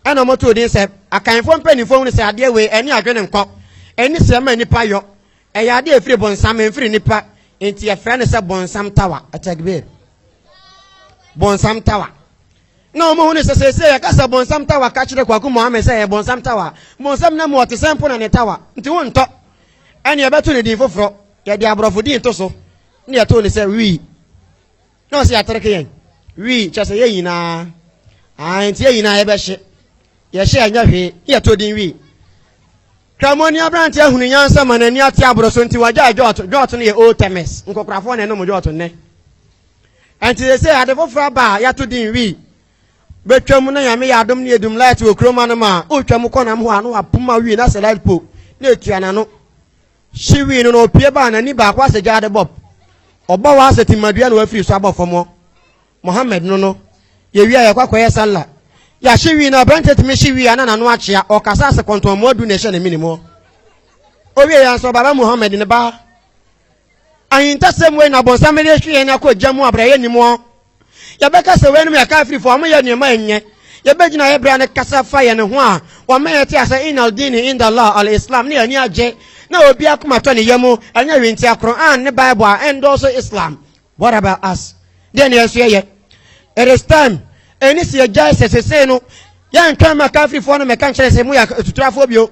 ɛna ɔmotoo din sɛ akanfoɔ mpanimfoɔ hunu sɛ adeɛ wei ɛne adwene nkɔ ɛni sɛ ma nnipa yɔ ɛyɛ adeɛ ɛfiri bonsam ɛmfiri nnipa nti yɛfrɛ no sɛ bonsam tawa atagbir bonsam tawa Na wɔn hu ne sɛ seesei yɛka sɛ bonsam tawa ka kyerɛ Kwaku Mohammed sɛ ɛyɛ bonsam tawa a, bonsam nam mu ɔte sɛ mpo na ne tawa nti wontɔ. Ɛnneɛ yɛbɛto no din foforɔ, yɛde aborɔfo din to so na yɛtoo no sɛ Wii. Na ɔse yɛatreke yɛn. Wii kyerɛ sɛ yɛn nyinaa. Ae, nti yɛn nyinaa yɛbɛhye. Yɛhye a ɛnyɛ hwee, na yɛtoo din Wii. Kramoni aberanteɛ hunu nyansa ma n'ani ate aboro so nti wagyae jɔɔto. Jɔɔto no yɛ Old Temes. Nkokorafoɔ na ɛnom jɔɔto nnɛ. Ɛnti sesei ade foforɔ aba a yɛato din Wi. Bɛtwam na Nyame yɛ adom na yɛdum light wɔ kurom anom a, wotwam kɔ nam hɔ a na wapoma Wi no asɛ light po na ɛtua n'ano. Hye Wi no na ɔpue ba a n'ani baako asɛ gyaade bɔb. Ɔbɔ hɔ asɛ timadua na wafiri so abɔ fam hɔ. Mohammed no no. Yɛwie a yɛkɔ akɔyɛ sallah. Yɛahye Wi no a, aberanteɛ tumi hye Wi a na n'ano akyea. Ɔkasa asɛ kɔntɔnmmoa du na ɛhyɛ ne menem hɔ. Ɔwie yɛ nso, Baba Mohammed no ba. Ahintasɛm wei na bɔnsam de rehwe yɛn akɔ gya mu a bere a yɛnnim wɔn. Yɛbɛka sɛ weinom yɛ Kafirfoɔ, wɔyɛ nneɛma a ɛnyɛ. Yɛbɛgyina yɛn bere a ne kasa fa yɛn ho a wɔma yɛte ase Inna al-Dini inda Allah al-Islam, ne yɛn ani agye na obi akoma tɔ ne yamu, ɛnyɛ hwentia, Qur'aan ne Bible a ɛndɔɔso Islam. What about us? Deɛn na yɛn nso yɛyɛ? It is time, ɛni sɛ yɛgyae sɛ sesei no yɛntwɛn ma Kafirfoɔ no mmɛka nkyerɛ yɛn sɛ moyɛ atuturafoɔ bio.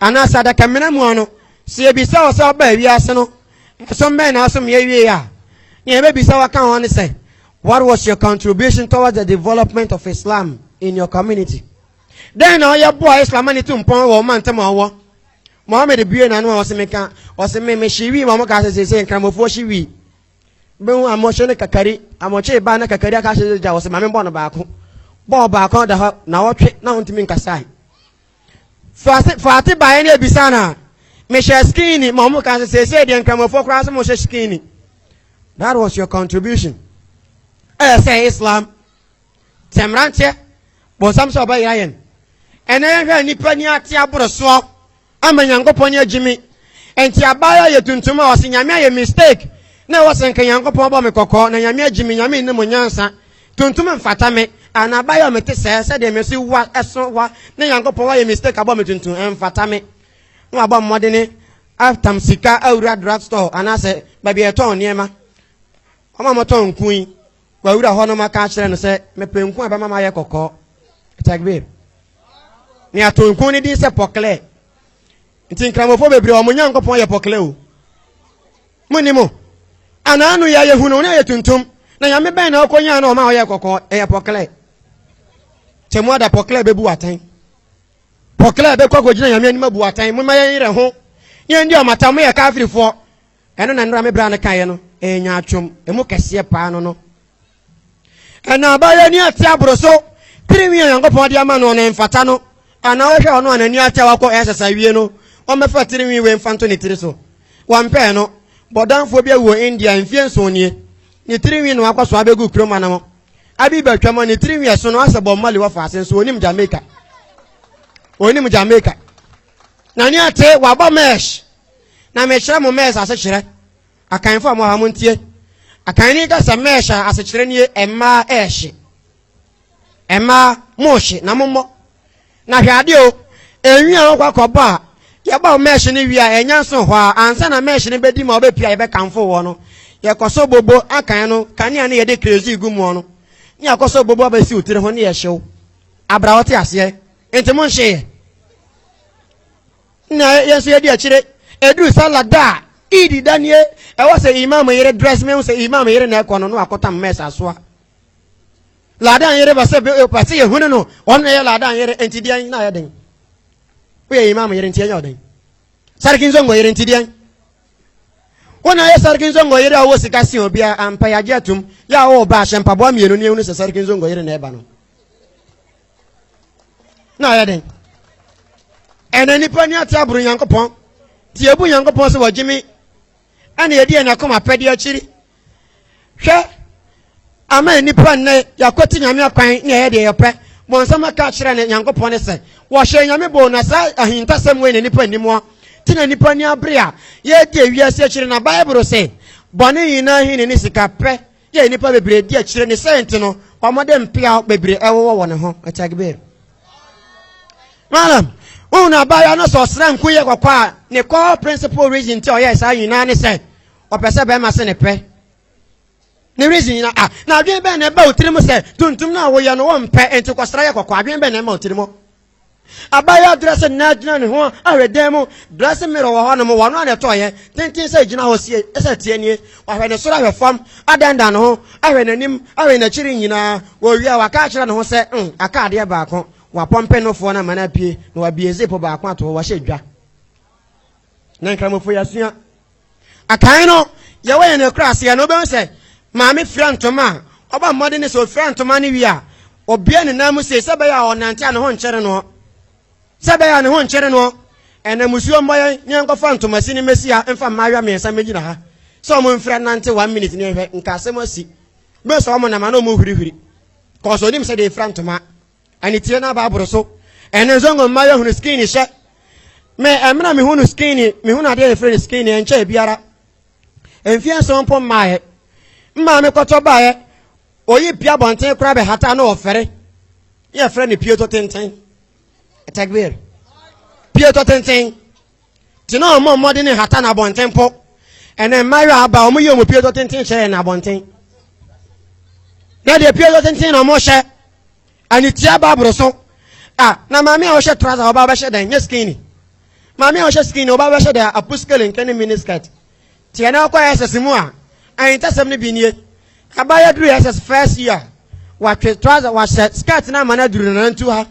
Anaasɛ adakamena mua no, sɛ yebisa wɔ sɛ wɔbaa wiase no ɛsom bɛn na wɔsom yɛ wiei a, nea yebebisa wɔ ka ho ne sɛ, What was your contribution towards the development of Islam in your community? Dɛn na woyɛ boaa Islam ma ne tu mpɔn wɔ wo mantam a wowɔ? Mohammed buee n'ano a ɔse, Meka, ɔse, me, mehye wii ma wɔkaa sɛ seesei Nkramofoɔ hye wii. Bɛhu amohye ne kakari, amokyee baa na kakari aka ahyɛ gya, ɔse, ma mebɔ no baako. Bɔɔ baako da hɔ nnawɔtwe na ontumi nkasae. Faase faate baeɛ no ebisa no a mehyɛ skinny ma ɔmo ka sɛ seesei deɛ nkramofoɔ koraa sɛ mo hyɛ skinny that was your contribution ɛyɛ sɛ Islam sɛ mmeranteɛ bɔnsam sɛ ɔbɛyera yɛn ɛnɛ yɛhwɛ nnipa ni ate aborosoɔ ama nyankopɔn ne agyimi nti abaayɛ yɛ tuntum a ɔse nyame ayɛ mistake na ɛwɔ sɛ nka nyankopɔn bɔ me kɔkɔɔ na nyame agyimi nyame nne mo nyansa Tuntum mfata me anaa abayɔ me te sɛɛ sɛdeɛ me so wa ɛso wa ne Nyankopɔn wayɛ mistake abɔ me tuntum ɛmfata me na wabɔ mmɔdene atam sika awura drug store anaasɛ baabi a yɛtɔn nneɛma wɔn a wɔtɔn nku yi wawura hɔ no maka akyerɛ no sɛ mepɛ nku a ɛbɛma ma ayɛ kɔkɔɔ takbir ne ato nku no din sɛ pɔklɛ nti nkramofo bebree wɔn Nyankopɔn yɛ pɔklɛ o Mo ni mo. Ana ano ya ye hunu ona ye tuntum. Na nyame bɛn na ɔkɔ nyaa na ɔma ɔyɛ kɔkɔ ɛyɛ pɔklɛ. Kyɛ mo ada pɔklɛ bɛ bu atɛn. Pɔklɛ bɛ kɔ akɔ gyina nyame anim abu atɛn. Mo ma yɛn yerɛ ho. Ne yɛn di ɔmata mo yɛ kafirifoɔ. Ɛno na nnora me bra no kaeɛ no ɛyɛ nyaatwom ɛmu kɛseɛ paa no no. Nnɔbaeɛ ani ate aboro so. Tirinwi a Onyankopɔn de ama no no mfata no. Anaa wohwɛ ɔno a n'ani atew akɔ SS awie no, ɔmmɛfa tirinwi wei mfa nto ne tiri so. Wɔmpɛɛ no. Bɔdamfoɔ bi awu wɔ India mfeɛ nson nie. Ne tirinwi na wakɔ soa abɛgu kurom anam. Abi ba twam a ne tirinwi a ɛso no asɛ Bob Marley wɔ faase nso ɔnim Jamaica. Ɔnim Jamaica. N'ani ate, wabɔ mesh. Na mekyerɛ mo mesh asekyerɛ. Akanfo a mo ha montie. Akan ne kasa mɛɛhye a asekyerɛ nie mmaa ɛɛhye. Mmaa mohye na mommɔ. Na hwɛ adeɛ o, enwi a wokɔ akɔbɔ a yɛbɔ wo mɛɛhye no wie a ɛnyɛ nso hɔ a ansa na mɛɛhye no bɛdi ma wobɛpie a yɛbɛkanfo woɔ no. Yɛkɔ so bobo akan no kanea ne yɛde kerosene gu muɔ no ne yɛakɔ so bobo abɛsi wo tiri ho ne yɛhye wo abra wote aseɛ. Nti monhyeeɛ. Na yɛn nso yɛdi akyire ɛduru sala da a iidi da nie ɛwɔ sɛ imam yere dress mehu sɛ imam yere na ɛkɔ no na wakɔtam mɛs asoa ladan yere ba sɛ ba sɛ yɛhunu no ɔno na ɛyɛ ladan yere nti deɛn na ayɛ den woyɛ imam yere nti ɛnyɛ ɔden sariki nsongo yere nti deɛn wo na ayɛ sariki nsongo yere a wɔ sika si obi a ampa yɛagye atom yɛ a wɔwɔ ba ahyɛ mpaboa mmienu ne ɛhunu sɛ sariki nsongo yere na ɛba no na ayɛ den ɛna nipa ni ate aboro nyankopɔn ti ebu nyankopɔn sɛ wɔgye me ɛna yɛdi yɛn akoma apɛde akyiri hwɛ ama nipa nnɛ yɛakɔte nyame akwan ne ɛyɛ deɛ yɛpɛ bɔnsɛm aka akyerɛ ne nyankopɔn ne sɛ wɔhyɛ nyame boo na saa ahintasɛm wei na nipa nnim hɔ te na nipa ni abere a yɛdi awiase akyiri na bible sɛ bɔne nyinaa hene ne sika pɛ Yɛ nnipa bebree di akyire ne sɛ nti no wɔde mpeaw bebree ɛwowɔ wɔn ho ɛtagbe malam wohu no abaayewa no sɛ ɔsra nku yɛ kɔkɔ a ne core principal reason nti a ɔyɛ saa nyinaa ne sɛ ɔpɛ sɛ bɛrima se ne pɛ ne reason nyinaa ah na adwene bɛn na ɛba wo tirim sɛ tuntum no a woyɛ no wɔmpɛ nti kɔsra yɛ kɔkɔ adwene bɛn na ɛma wo tirim Abayewa a ɔdrɛse no na gyina ne ho ahwɛ dan mu. Dressing mirror wɔ hɔnom. Wɔn ano na ɛtɔɔ yɛn. Tenten sɛ egyina hɔ sie sɛ tie nie. Wahwɛ ne soro ahwɛ fam, adandan ne ho, ahwɛ n'anim, ahwɛ n'akyiri nyinaa. Owie a, waka akyerɛ ne ho sɛ, Umm, aka adeɛ baako. Wapɔmpe nofoɔ no ama no apue, na wabue zip baako ato hɔ. Wahyɛ dwa. Ne nkramofo, yɛasua. A Kan no, yɛwɔ yɛn akuraaseɛ no, wobɛhu sɛ maame fira ntoma a, ɔbɔ mmɔden ne sɛ ɔfira ntoma no wie a, ɔbue ne nan mu sei sɛ ɛbɛyɛ a ɔnante a ne ho nkyere noɔ. Sɛ ɛbɛyɛ a ne ho nkyere noɔ. Ɛnɛ musuo mmɔ yɛn ne yɛnkɔfa ntomasi no mmɛsi ha mfa mmaayewa mmiɛnsa mmɛgyina ha sɛ wɔn mfira nnante one minute ne yɛnhwɛ nka asɛm asi. Bɛhu sɛ wɔn nam anaa wɔn hurihuri. Kɔɔso ɔnim sɛdeɛ yɛfira ntoma. Ɛne tie na baaboro so. Ɛne nso ngo mma yɛhunu skin hyɛ. Me ɛmena mehunu skin mehunu adeɛ a yɛfrɛ no skin ɛnkyɛ biara. Mfeɛ nson mpo mmaeɛ. Mmaa mekɔtɔ baeɛ. Oyi pia bɔnten koraa bɛhata na ɔfɛre. Yɛfrɛ no pieto tenten. Takbir. Pieto tenten. Te na wɔn mmɔden ne hata na abɔnten mpo. Ɛnɛ mmaayewa aba a wɔn yɛ wɔn pie dɔ tenten hyɛ yɛn na abɔnten. Na deɛ pie dɔ tenten na wɔn hyɛ anitia ba aboro so. Ah, na maame a ɔhyɛ trouser ɔba bɛhyɛ dɛn? Nyɛ skinny. Maame a ɔhyɛ skinny ɔba bɛhyɛ dɛn? Apuskele nkɛ ne mini skirt. Tsia na ɔkɔ SS mu a ahintasɛm no bi nie, Abaayewa dur SS first year, ɔatwe trouser, ɔahyɛ skirt na ama no adur ne nanantu ha.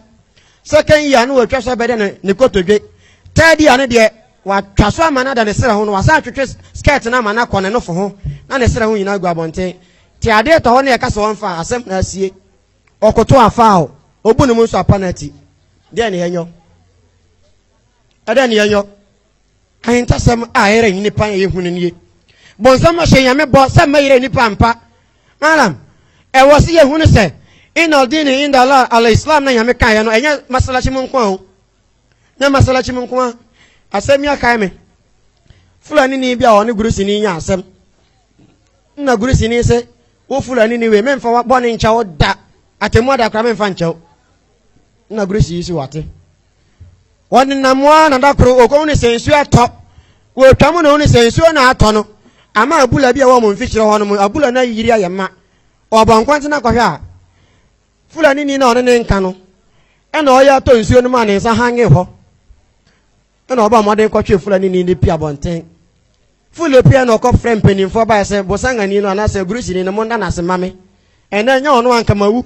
Second year no oetwa so abɛda ne ne kotodwe. Third year no deɛ, ɔatwa so ama no ada ne serɛ ho na ɔasan atwetwe skirt no ama no akɔ ne nofo ho na ne serɛ ho nyina agu abɔnten. Tsia ade retɔ hɔ na yɛka sɛ ɔmfa a, asɛm na asie. Ɔkoto afa o, obu no mu nso apa no ati. Dɛn na yɛnyɔ? Dɛn na yɛnyɔ? Ahintasɛm a ɛyera nnipa a ɛyɛ hu no nie. Bonsam ahyɛ Nyame bɔ sɛ mɛyera nnipa ampa. Alam, ɛwɔ sɛ yɛhu no sɛ, Inna al-dini inda Allah al-Islam na Nyame kaeɛ no, ɛnyɛ masalachi mu nko a o. Nyɛ masalachi mu nko a. Asɛm yi akae me. Fulani ni bi a ɔne Gurisini nya asɛm. Nna Gurisini se, wo Fulani ni wei, memfa wa bɔne nkyɛ wo da. Atemmu ada koraa memfa nkyɛ wo. Nna Gurisini si wate. wɔnenam hɔ ara na da koro wɔkɔhu no sɛ nsuo atɔ wɔtwa mu na wɔhu no sɛ nsuo na atɔ no ama abula bi a wɔn mfikyerɛ hɔ no mu abula no ayiri ayɛ ma ɔbɔ nkwanten akɔhwɛ a fulani ni na ɔne ne nka no ɛna ɔyɛ atɔ nsuo no mu a ne nsa hange hɔ ɛna ɔbɔ mmɔden kɔtwe fulani ni ne pia bɔnten fule pia na ɔkɔ frɛ mpanimfoɔ baɛ sɛ bosangani no anaasɛ agurusini no mo nna no ase ma me ɛnɛ ɛnyɛ ɔno ankamawu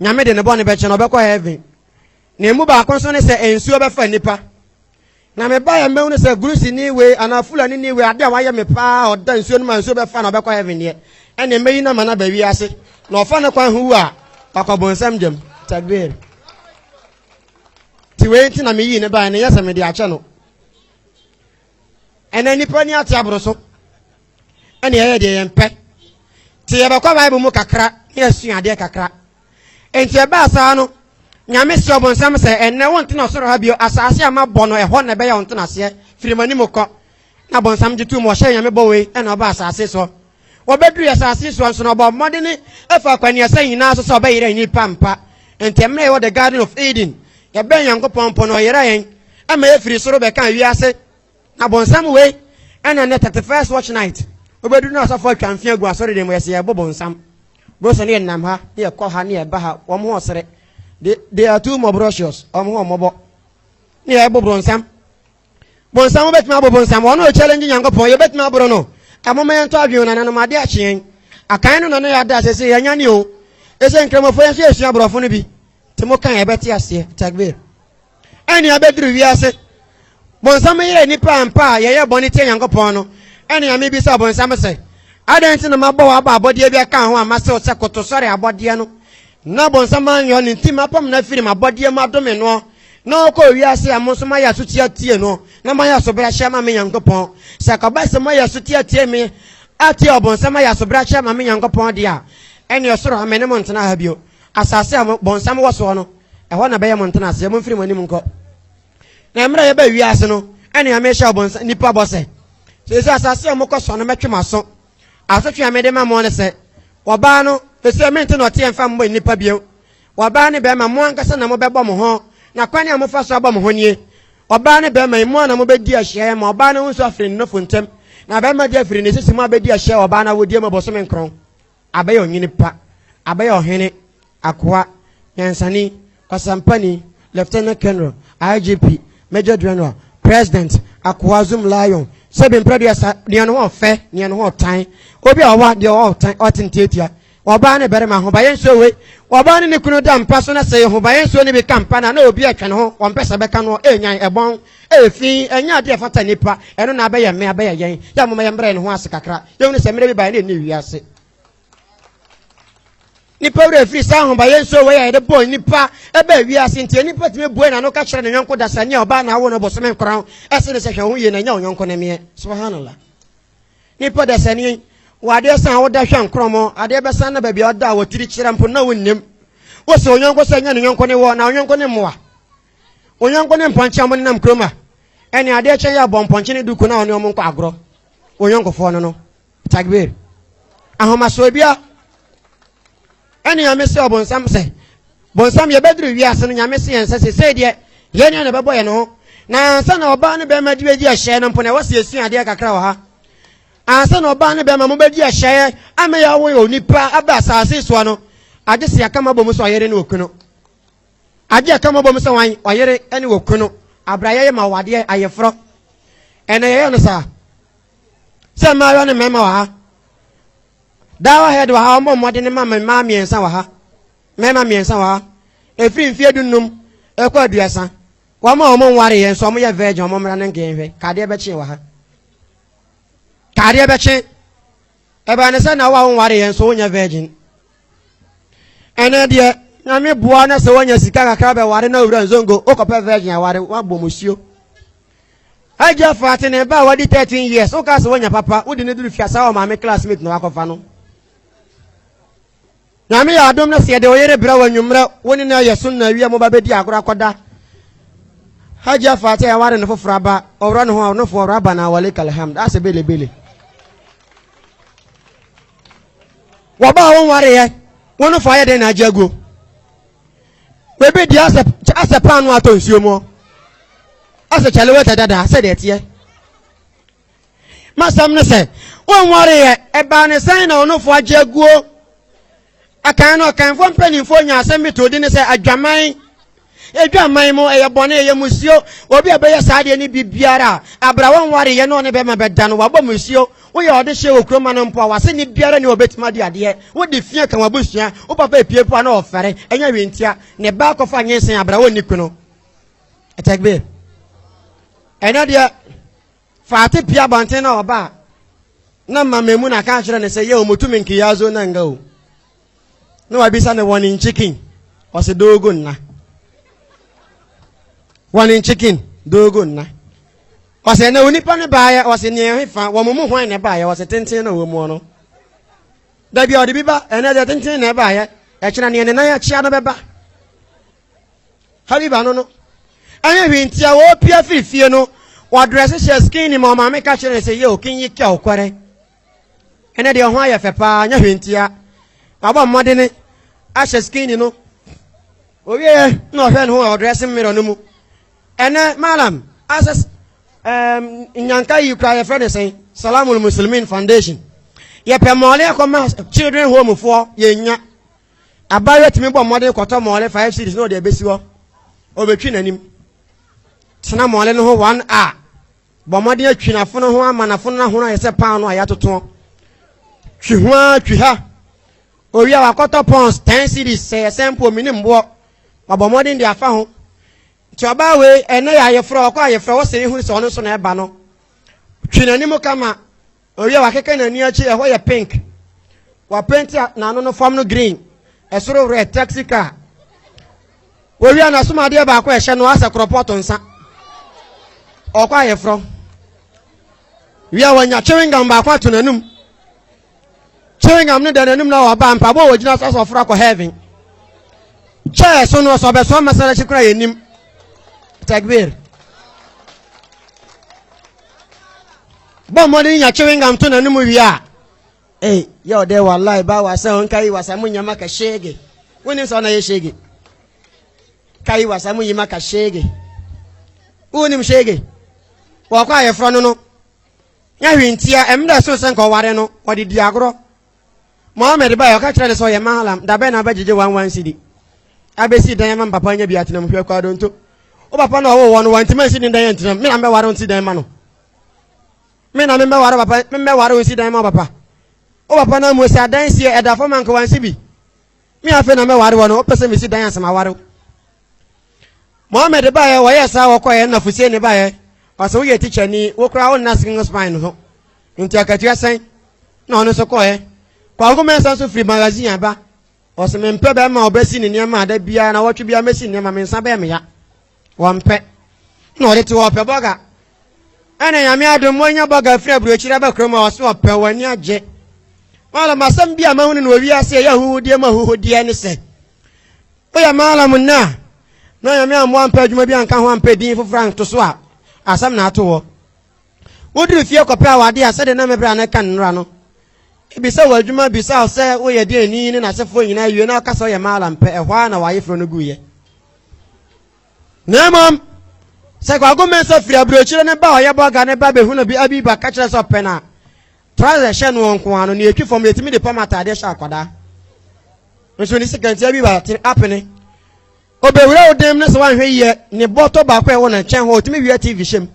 Nyame de ne bɔne bɛkyɛ no, ɔbɛkɔ heaven. Na emu baako nso ne sɛ nsuo bɛfa nnipa. Na mebaeɛ mmɛhu no sɛ Greeceni wei anaa Fulanini wei adeɛ a wayɛ me paa a ɔda nsuo no ma nsuo bɛfa na ɔbɛkɔ heaven deɛ ɛne mmɛyi no ama no aba wiase na ɔfa no kwan ho wu a wakɔ bonsam gyam. Takbir. Ti wei nti na meyii ne baeɛ no nyɛ sɛ mede akyɛ no. ɛnɛ nnipa ni ate aboro so ɛne ɛyɛ deɛ yɛn pɛ te yɛbɛkɔ bible mu kakra ne asua adeɛ kakra enti ɛbaa saa no nyame si ɔbonsam sɛ ɛnɛ wo ntena ɔsoro ha bio asase a mabɔ no ɛhɔ na ɛbɛyɛ wo ntenaseɛ firi m'anim kɔ na bonsam gye tom ɔhyɛ nyame bɔ wei ɛna ɔba asase so Wɔbɛdurui asase so nso no, ɔbɔɔ mmɔden faa akwannuasa nyinaa so sɛ ɔbɛyera nnipa mpa. Enti mmerɛ a yɛwɔ the garden of Eden, yɛbɛn Nyankopɔn mpo no, ɔyera yɛn ma yɛfiri soro bɛkaa wiase. Na bonsam wei na nnɛ 31st watch night, wobɛduru no asɔfoɔ atwa mfe agu asɔredan mu, yɛse yɛbo bonsam. Bro sɛ ne yɛnam ha, ne yɛkɔ ha, ne yɛba ha, wɔn ho ɔsere. They, they are too mɔbrosious, wɔn ho ɔmmɔbɔ. Ne yɛbo bronsam, bonsam wobɛtumi abo bonsam wɔn na ɔkyɛlɛngye nyankopɔn yɛbɛtumi aboro no ɛmoma yɛntɔ adwene nananom ade akyeɛn akan no na ne yɛada sɛ sɛ yɛanya ne o ɛsɛ nkramɔfoɔ yɛn nso yɛsua aborɔfo no bi te mo kan ɛbɛte aseɛ takbir ɛne abɛduru wiase bonsam yɛyɛ nnipa ampa a yɛyɛ bɔne tia nyankopɔn no ɛne ame bi sɛ bonsam sɛ adɛn nti na mabɔ wɔ aba abɔdeɛ bi aka ho a masew sɛ koto sɔre abɔdeɛ no Na bɔnsam anyɔ ne nti mapam no afiri m'abɔdeɛ mu adome noɔ, na ɔkɔɔ wiase a mo nso moayɛ asotie atie no, na moayɛ asobrahyɛ ama me Nyankopɔn. Sɛ ɛkɔba sɛ moayɛ asotie atie me, atie ɔbonsam ayɛ asobrahyɛ ama me Nyankopɔn deɛ a, ɛneɛ ɔsoro ha me ne mo ntena ha bio. Asaase a bɔnsam wɔ soɔ no, ɛhɔ na ɛbɛyɛ mo ntenaseɛ. Momfiri mo anim nkɔ. Na mmerɛ a yɛbaa wiase no, ɛneɛ mehyɛɛ nnipa bɔ sɛ, Seesei asaase a mokɔsoa no mɛtwe mo aso, Asotwe a mede ma mo ne sɛ, ɔbaa no, efisɛ me nti na ɔteɛ mfa mmɔ nnipa bio. Ɔbaa ne barima, mo ankasa na mobɛbɔ mo ho, na kwan a mofa so abɔ mo ho nie. Ɔbaa ne barima, emu a na mobɛdi ahyiaeɛ ma ɔbaa no ho nso afiri ne nofo ntam, na barima de afiri ne sisi mu abɛdi ahyiaeɛ wɔ ɔbaa no awodeɛ mu bosome nkron. Abɛyɛ ɔnyini pa, abɛyɛ ɔhene, akoa, nyansani, Ɔsɛmpani, Lieutenant Colonel, IGP, Major General, President, Akoa Zoom Lion, sɛ bempere aduasa, nea ne ho ɔfɛ, nea ne ho ɔtan, obi a ɔwa, deɛ ɔwɔ ɔtan, ɔte ntiatia, ɔbaa ne barima, ahobaeɛ nsuo wei, ɔbaa ne ne kunu da mpa so na sɛ ahobaeɛ nsuo no bi ka mpa no a na obi retwɛn ne ho, ɔmpɛ sɛ ɛbɛka noɔ, ɛrenyan, ɛbɔn, ɛyɛ fi, ɛnyɛ adeɛ a ɛfata nnipa, ɛno na abɛyɛ me, abɛyɛ yɛn, yɛ a momma yɛmmrɛ yɛn ho ase kakra, yɛhunu sɛ mmerɛ bi baeɛ na ɛnni wiase. nipa wura firi saa ahobayɛ nso wɔ yɛ yɛde bɔɔ nipa ɛbɛ wiase nti nipa tumi bue na no ka kyerɛ ne yɔnko dasani a ɔbaa na awo no bɔsome nkora ɛsɛ ne sɛ hwɛ ho yie na nya ɔyɔnko ne meɛ subhanallah nipa dasani wɔ adeɛ san woda hwɛ nkorɔmɔ adeɛ bɛsan na baabi a ɔda a wɔtiri kyerɛ mpo na wonnim wo sɛ ɔyɔnko sɛ nya ne yɔnko ne wɔ na ɔyɔnko ne mmoa ɔyɔnko ne mpɔnkye ɔmo nenam kurom a ɛne adeɛ kyɛn yɛ abɔ mpɔnkye ne duku na ɔne ɔmo nkɔ agorɔ ɔyɔnkofoɔ no no Takbir. Ahomasoɔ bia ɛne nyame se ɔbonsam sɛ bonsam yɛbɛduru wiase no nyame se yɛn sɛ sesei deɛ yɛn nea na ɛbɛbɔ yɛn ho na ansa na ɔbaa ne bɛrima de bɛdi ɛhyɛ no mpo na ɛwɔ se yɛsua adeɛ kakra wɔ ha ansa na ɔbaa ne bɛrima mobɛdi ɛhyɛ ama yɛawo onipa aba asase soɔ no agye se yɛka mabɔ mu sɛ ɔyere ne okunu agye yɛka mabɔ mu sɛ wan ɔyere ne okunu abrayɛ yɛ ma wadeɛ ayeforɔ ɛna yɛyɛ no saa sɛ mmaayewa ne mmarima wɔ ha dawa head wɔ ha ɔmmɔ mmɔden ne ma mmaa mmiɛnsa wɔ ha mmarima mmiɛnsa wɔ ha ɛfiri mfeɛ dunnum ɛkɔ aduasa wɔn a wɔn nware yɛn nso wɔn yɛ virgin wɔn mmara no nkɛn hwɛ kadeɛ bɛkye wɔ ha kadeɛ bɛkye ɛbɛn ne sɛ na wo a wɔn nware yɛn nso wonyɛ virgin ɛnɛ deɛ nyame boa na sɛ wɔnya sika kakra bɛware na owura nzongo wokɔpɛ virgin aware wabɔ musuo Agya Faate ne ba a wadi 13 years wokaa sɛ wanya papa wode no duru fiasa wɔ maame classmate na wakɔfa no. Nyame yɛ adom na sɛ yɛde oyere brɛ wɔ anwummerɛ wo ne no ayɛ so na awia mo ba bɛdi agorɔ akɔda. Agya Faate a yɛware no foforɔ aba ɔwura no ho a ɔnofo ɔwura aba na awale kalhamd asɛ belebele. Wɔba a wonwareɛ wo no fa ayɛ dɛn na agya guo. Baabi deɛ asɛ asɛ paano atɔ nsuo mu asɛ kyale wɛtɛ dada sɛ deɛ teɛ masɛm ne sɛ wɔnwareɛ ɛbaa ne sɛn na ɔnofo agye aguo akan no ɔkanfoɔ mpanimfoɔ nya asɛm bi to di ne sɛ adwaman adwaman mu ɛyɛ bɔne ɛyɛ musuo obi a ɛbɛyɛ saa deɛ ne biribiara a abra wɔnwareɛ ne ɔne bɛma bɛda no wabɔ musuo Woyɛ ɔdehye wɔ kurom ma no mpo a, w'aseni biara nni hɔ a obetumi adi adeɛ. Wode fi ka w'abusua, wo papa apue mpo a na ɔfɛre, ɛnyɛ hwee ntia, ne ba akɔfa nyensen abra a onni kunu. Takbir. Ɛnɛ deɛ, Fati pue abɔnten na ɔba a, na Mama Emuna ka kyerɛ no sɛ, yɛ omutu me nkiyazo na nga o. na wabisa no wɔne nkyekin ɔsɛ doogo nna wɔne nkyekin doogo nna ɔsɛ na onipa no baayɛ ɔsɛ nea ɛhe fa wɔn mu hwan na ɛbaayɛ ɔsɛ tenten na wɔn mu no dabi a ɔde bi ba ɛnɛ deɛ tenten na ɛbaayɛ ɛkyerɛ nea ne nan akyia no bɛba habiba no no ɛnyɛ hwee nti a wɔpia firi fie no wɔadrɛse hyɛ skin nim ɔmaame ka kyerɛ sɛ yɛ okin yi kɛ ɔkɔrɛ ɛnɛ deɛ ɔho ayɛ fɛ paa nyɛ hwee ntia wabɔ mmɔdene ahyɛ skin no owieɛ na ɔhwɛ ne ho a ɔdrɛse mmerɛ no mu ɛnɛ malam asɛ um, nyanka yi kura yɛfrɛ ne sɛn salamul muslimin foundation yɛpɛ mmɔɔle akɔma children home foɔ yɛnya abayewa tumi bɔ mmɔden kɔtɔ mmɔɔle five series na ɔde abɛsi hɔ ɔbɛtwi n'anim tena mmɔɔle no ho one hour Bɔ mmɔden atwi n'afono ho ama n'afono no ahono ayɛ sɛ paanoo a yɛatotoɔ. Twi ho ara twi ha. Owie a wakɔtɔ pɔns 10 cedis sɛ yɛ sɛ mpo menim boɔ. Wabɔ mmɔden de afa ho. Nti ɔbaa wei ɛnɛ yɛ ayefrɛ ɔkɔ ayefrɛ wo se ehunu sɛ ɔno nso na ɛba no. Twi n'anim kama Ɔwie a wakeka n'ani akyi, ɛhɔ yɛ pink. Wapenti a n'ano no fam no green, ɛsoro red, taxi car. Wɔwie a n'asom adeɛ baako a ɛhyɛ no asɛ korɔpɔt nsa. Ɔkɔ ayeforɔ. Wie a wanya chewing gum baako ato n'anum. Chewing gum no da n'anum na ɔba mpaboa a wɔgyina so asɛ ɔforo akɔ heaven. Kyɛɛ so no ɔsɛ ɔbɛsoa masalakyi koraa yɛ nim. Takbir. bɔ mmɔden nya chewing-gum to n'anom wie a ei yɛ ɔdɛ wallahi ba wasa ho nka yi wasa mo nyɛ maka shege wonim sɛ ɔna yɛ shege ka yi wasa mo yi maka shege wonim shege wɔkɔ a yɛfrɛ no no nyɛ hwe ntia ɛm dɛ so sɛ nka ɔware no ɔde di agorɔ mohammed ba ɔka kyerɛ ne sɛ ɔyɛ mahalam dabɛ na abɛgyegye wan wan sidi abɛsi dan ma mpapa nya bi atenam hwɛ kɔ adonto wo papa na ɔwowɔ no wantimi ansi ne dan antinam me na mbɛware nsi dan ma no me na memmɛware papa memmɛware wo nsi dan ma papa wo papa no amu sɛ adan sie ɛda fam anka wansi bi me afei na mɛware wɔ no wopɛ sɛ mesi dan asɛm aware wo mohammed baeɛ wɔyɛ saa wɔkɔɛ ɛna fusie ne baeɛ ɔsɛ woyɛ tikyani wo koraa wonna skin spine no so nti akatua sɛn na ɔno nso kɔɛ kwanko mɛnsa nso firi magazine aba ɔsɛ mempɛ bɛrima a ɔbɛsi ne nneɛma ada biara na wɔtwe biara mɛsi nneɛma mensa bɛɛ meya Wɔmpɛ. Na ɔde te hɔ ɔpɛ bɔga. Ɛna nyame adom monya bɔga firi aburokyire aba kurom a ɔso ɔpɛ wɔn ani agye. Malam asɛm bi a mahunu no wɔ wiase ɛyɛ ahuhudeɛ mu ahuhudeɛ ne sɛ woyɛ malam nnɛ a na nyame ammoa ampɛ adwuma bi anka ho ampɛ din foforɔ anto so a asɛm na ato hɔ. Woduru fie kɔpɛ awadeɛ a sɛdeɛ na me berɛ a na ɛka nnora no ebisa wɔ adwuma bisa wo sɛ woyɛ deɛ ni ne n'asefoɔ nyinaa wie na ɔka sɛ ɔyɛ malam pɛ ɛhɔ ara na w'ayeforɔ no guiɛ. Na mmom, sɛ Kwaku Mensah firi aburokyire no ba a ɔyɛ bɔga no ba bɛhu no bi abi ba ka kyerɛ sɛ ɔpɛ no a, trɔsɛ hyɛ noɔ nko ara no, nea ɛtwi fam no yɛtumi de pam ataadeɛ hyɛ akwadaa. Nso ne sekantia bi ba te apene. Ɔbɛwura wo dan mu no sɛ woanhwɛ yie ne bɔtɔ baako a ɛwɔ ne nkyɛn hɔ a ɔtumi wia TV hyɛ mu.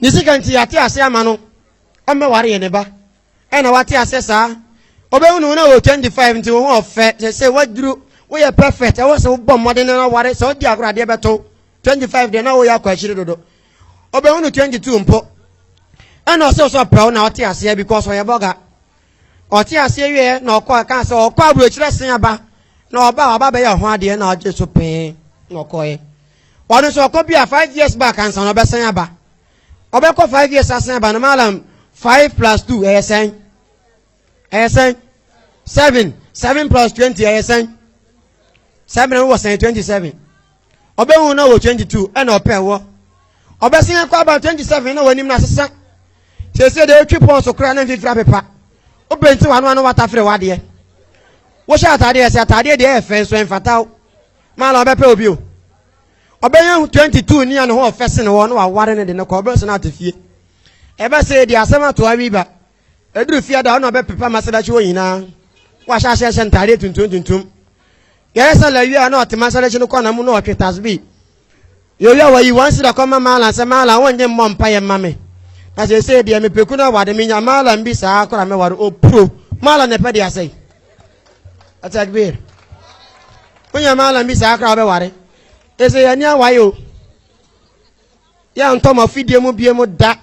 Ne sekantia yɛate ase ama no ɔmmɛware yɛn ne ba. ɛna wate aseɛ saa ɔbɛhu ne ho na wɔ 25 nti wo ho ɔfɛ sɛ sɛ waduru woyɛ perfect ɛwɔ sɛ wobɔ mmɔden no ware sɛ wodi agorɔ adeɛ bɛto 25 deɛ na woyɛ akɔ akyiri dodo ɔbɛhu no 22 mpo ɛna ɔsɛ sɛ ɔpɛ wo na ɔte aseɛ because ɔyɛ bɔga ɔte aseɛ wieɛ na ɔkɔ ɛka sɛ ɔkɔ aburokyerɛ sen aba na ɔba ɔba bɛyɛ ɔho adeɛ na ɔgye so pee na ɔkɔɛ ɔno nso ɔkɔ bi a 5 years back ansa na ɔbɛsan aba ɔbɛkɔ five years asan aba no malam five plus two ɛyɛ sɛn ɛyɛ sɛn seven seven plus twenty ɛyɛ sɛn seven ɛwɔ sɛn twenty seven ɔbɛhu na wɔ twenty two ɛna ɔpɛ wɔ ɔbɛsen akɔ aba twenty seven na wɔnim na asesa siesie deɛ otwi pɔn so koraa na mfifiri apepa obɛnti wɔn ano ano watafere wadeɛ wohyɛ ataadeɛ ɛsɛ ataadeɛ deɛ ɛyɛ fɛn so ɛnfataw malam ɔbɛpɛ obi o. ɔbɛnya ho 22 ni a ne ho ɔfɛ sene wɔ na waware ne de no kɔ ɔbɛsɛ no ate fie ɛbɛ sɛ ɛdi asɛm ato awi ba ɛduru fie da ɔna ɔbɛpepa ma sɛdakye wɔ nyinaa wahyɛ ahyɛ hyɛ ntadeɛ tuntum tuntum yɛyɛ sɛ lawia na ɔtema sɛdakye no kɔna mu na ɔtwe tasbi yɛwia wayi wɔn si da kɔma maala sɛ maala wɔnyɛ mmɔ mpa yɛ mma me na sɛ ɛsɛ deɛ mepɛku no awade menya maala mbi saa kora mɛware ɔpuro maala na ɛpɛ de asɛe Atakbir. Wonya malam bi saa koraa wobɛware. Ɛsɛ yɛn ani awae o. Yɛntɔ mo afidie mu bie mu da.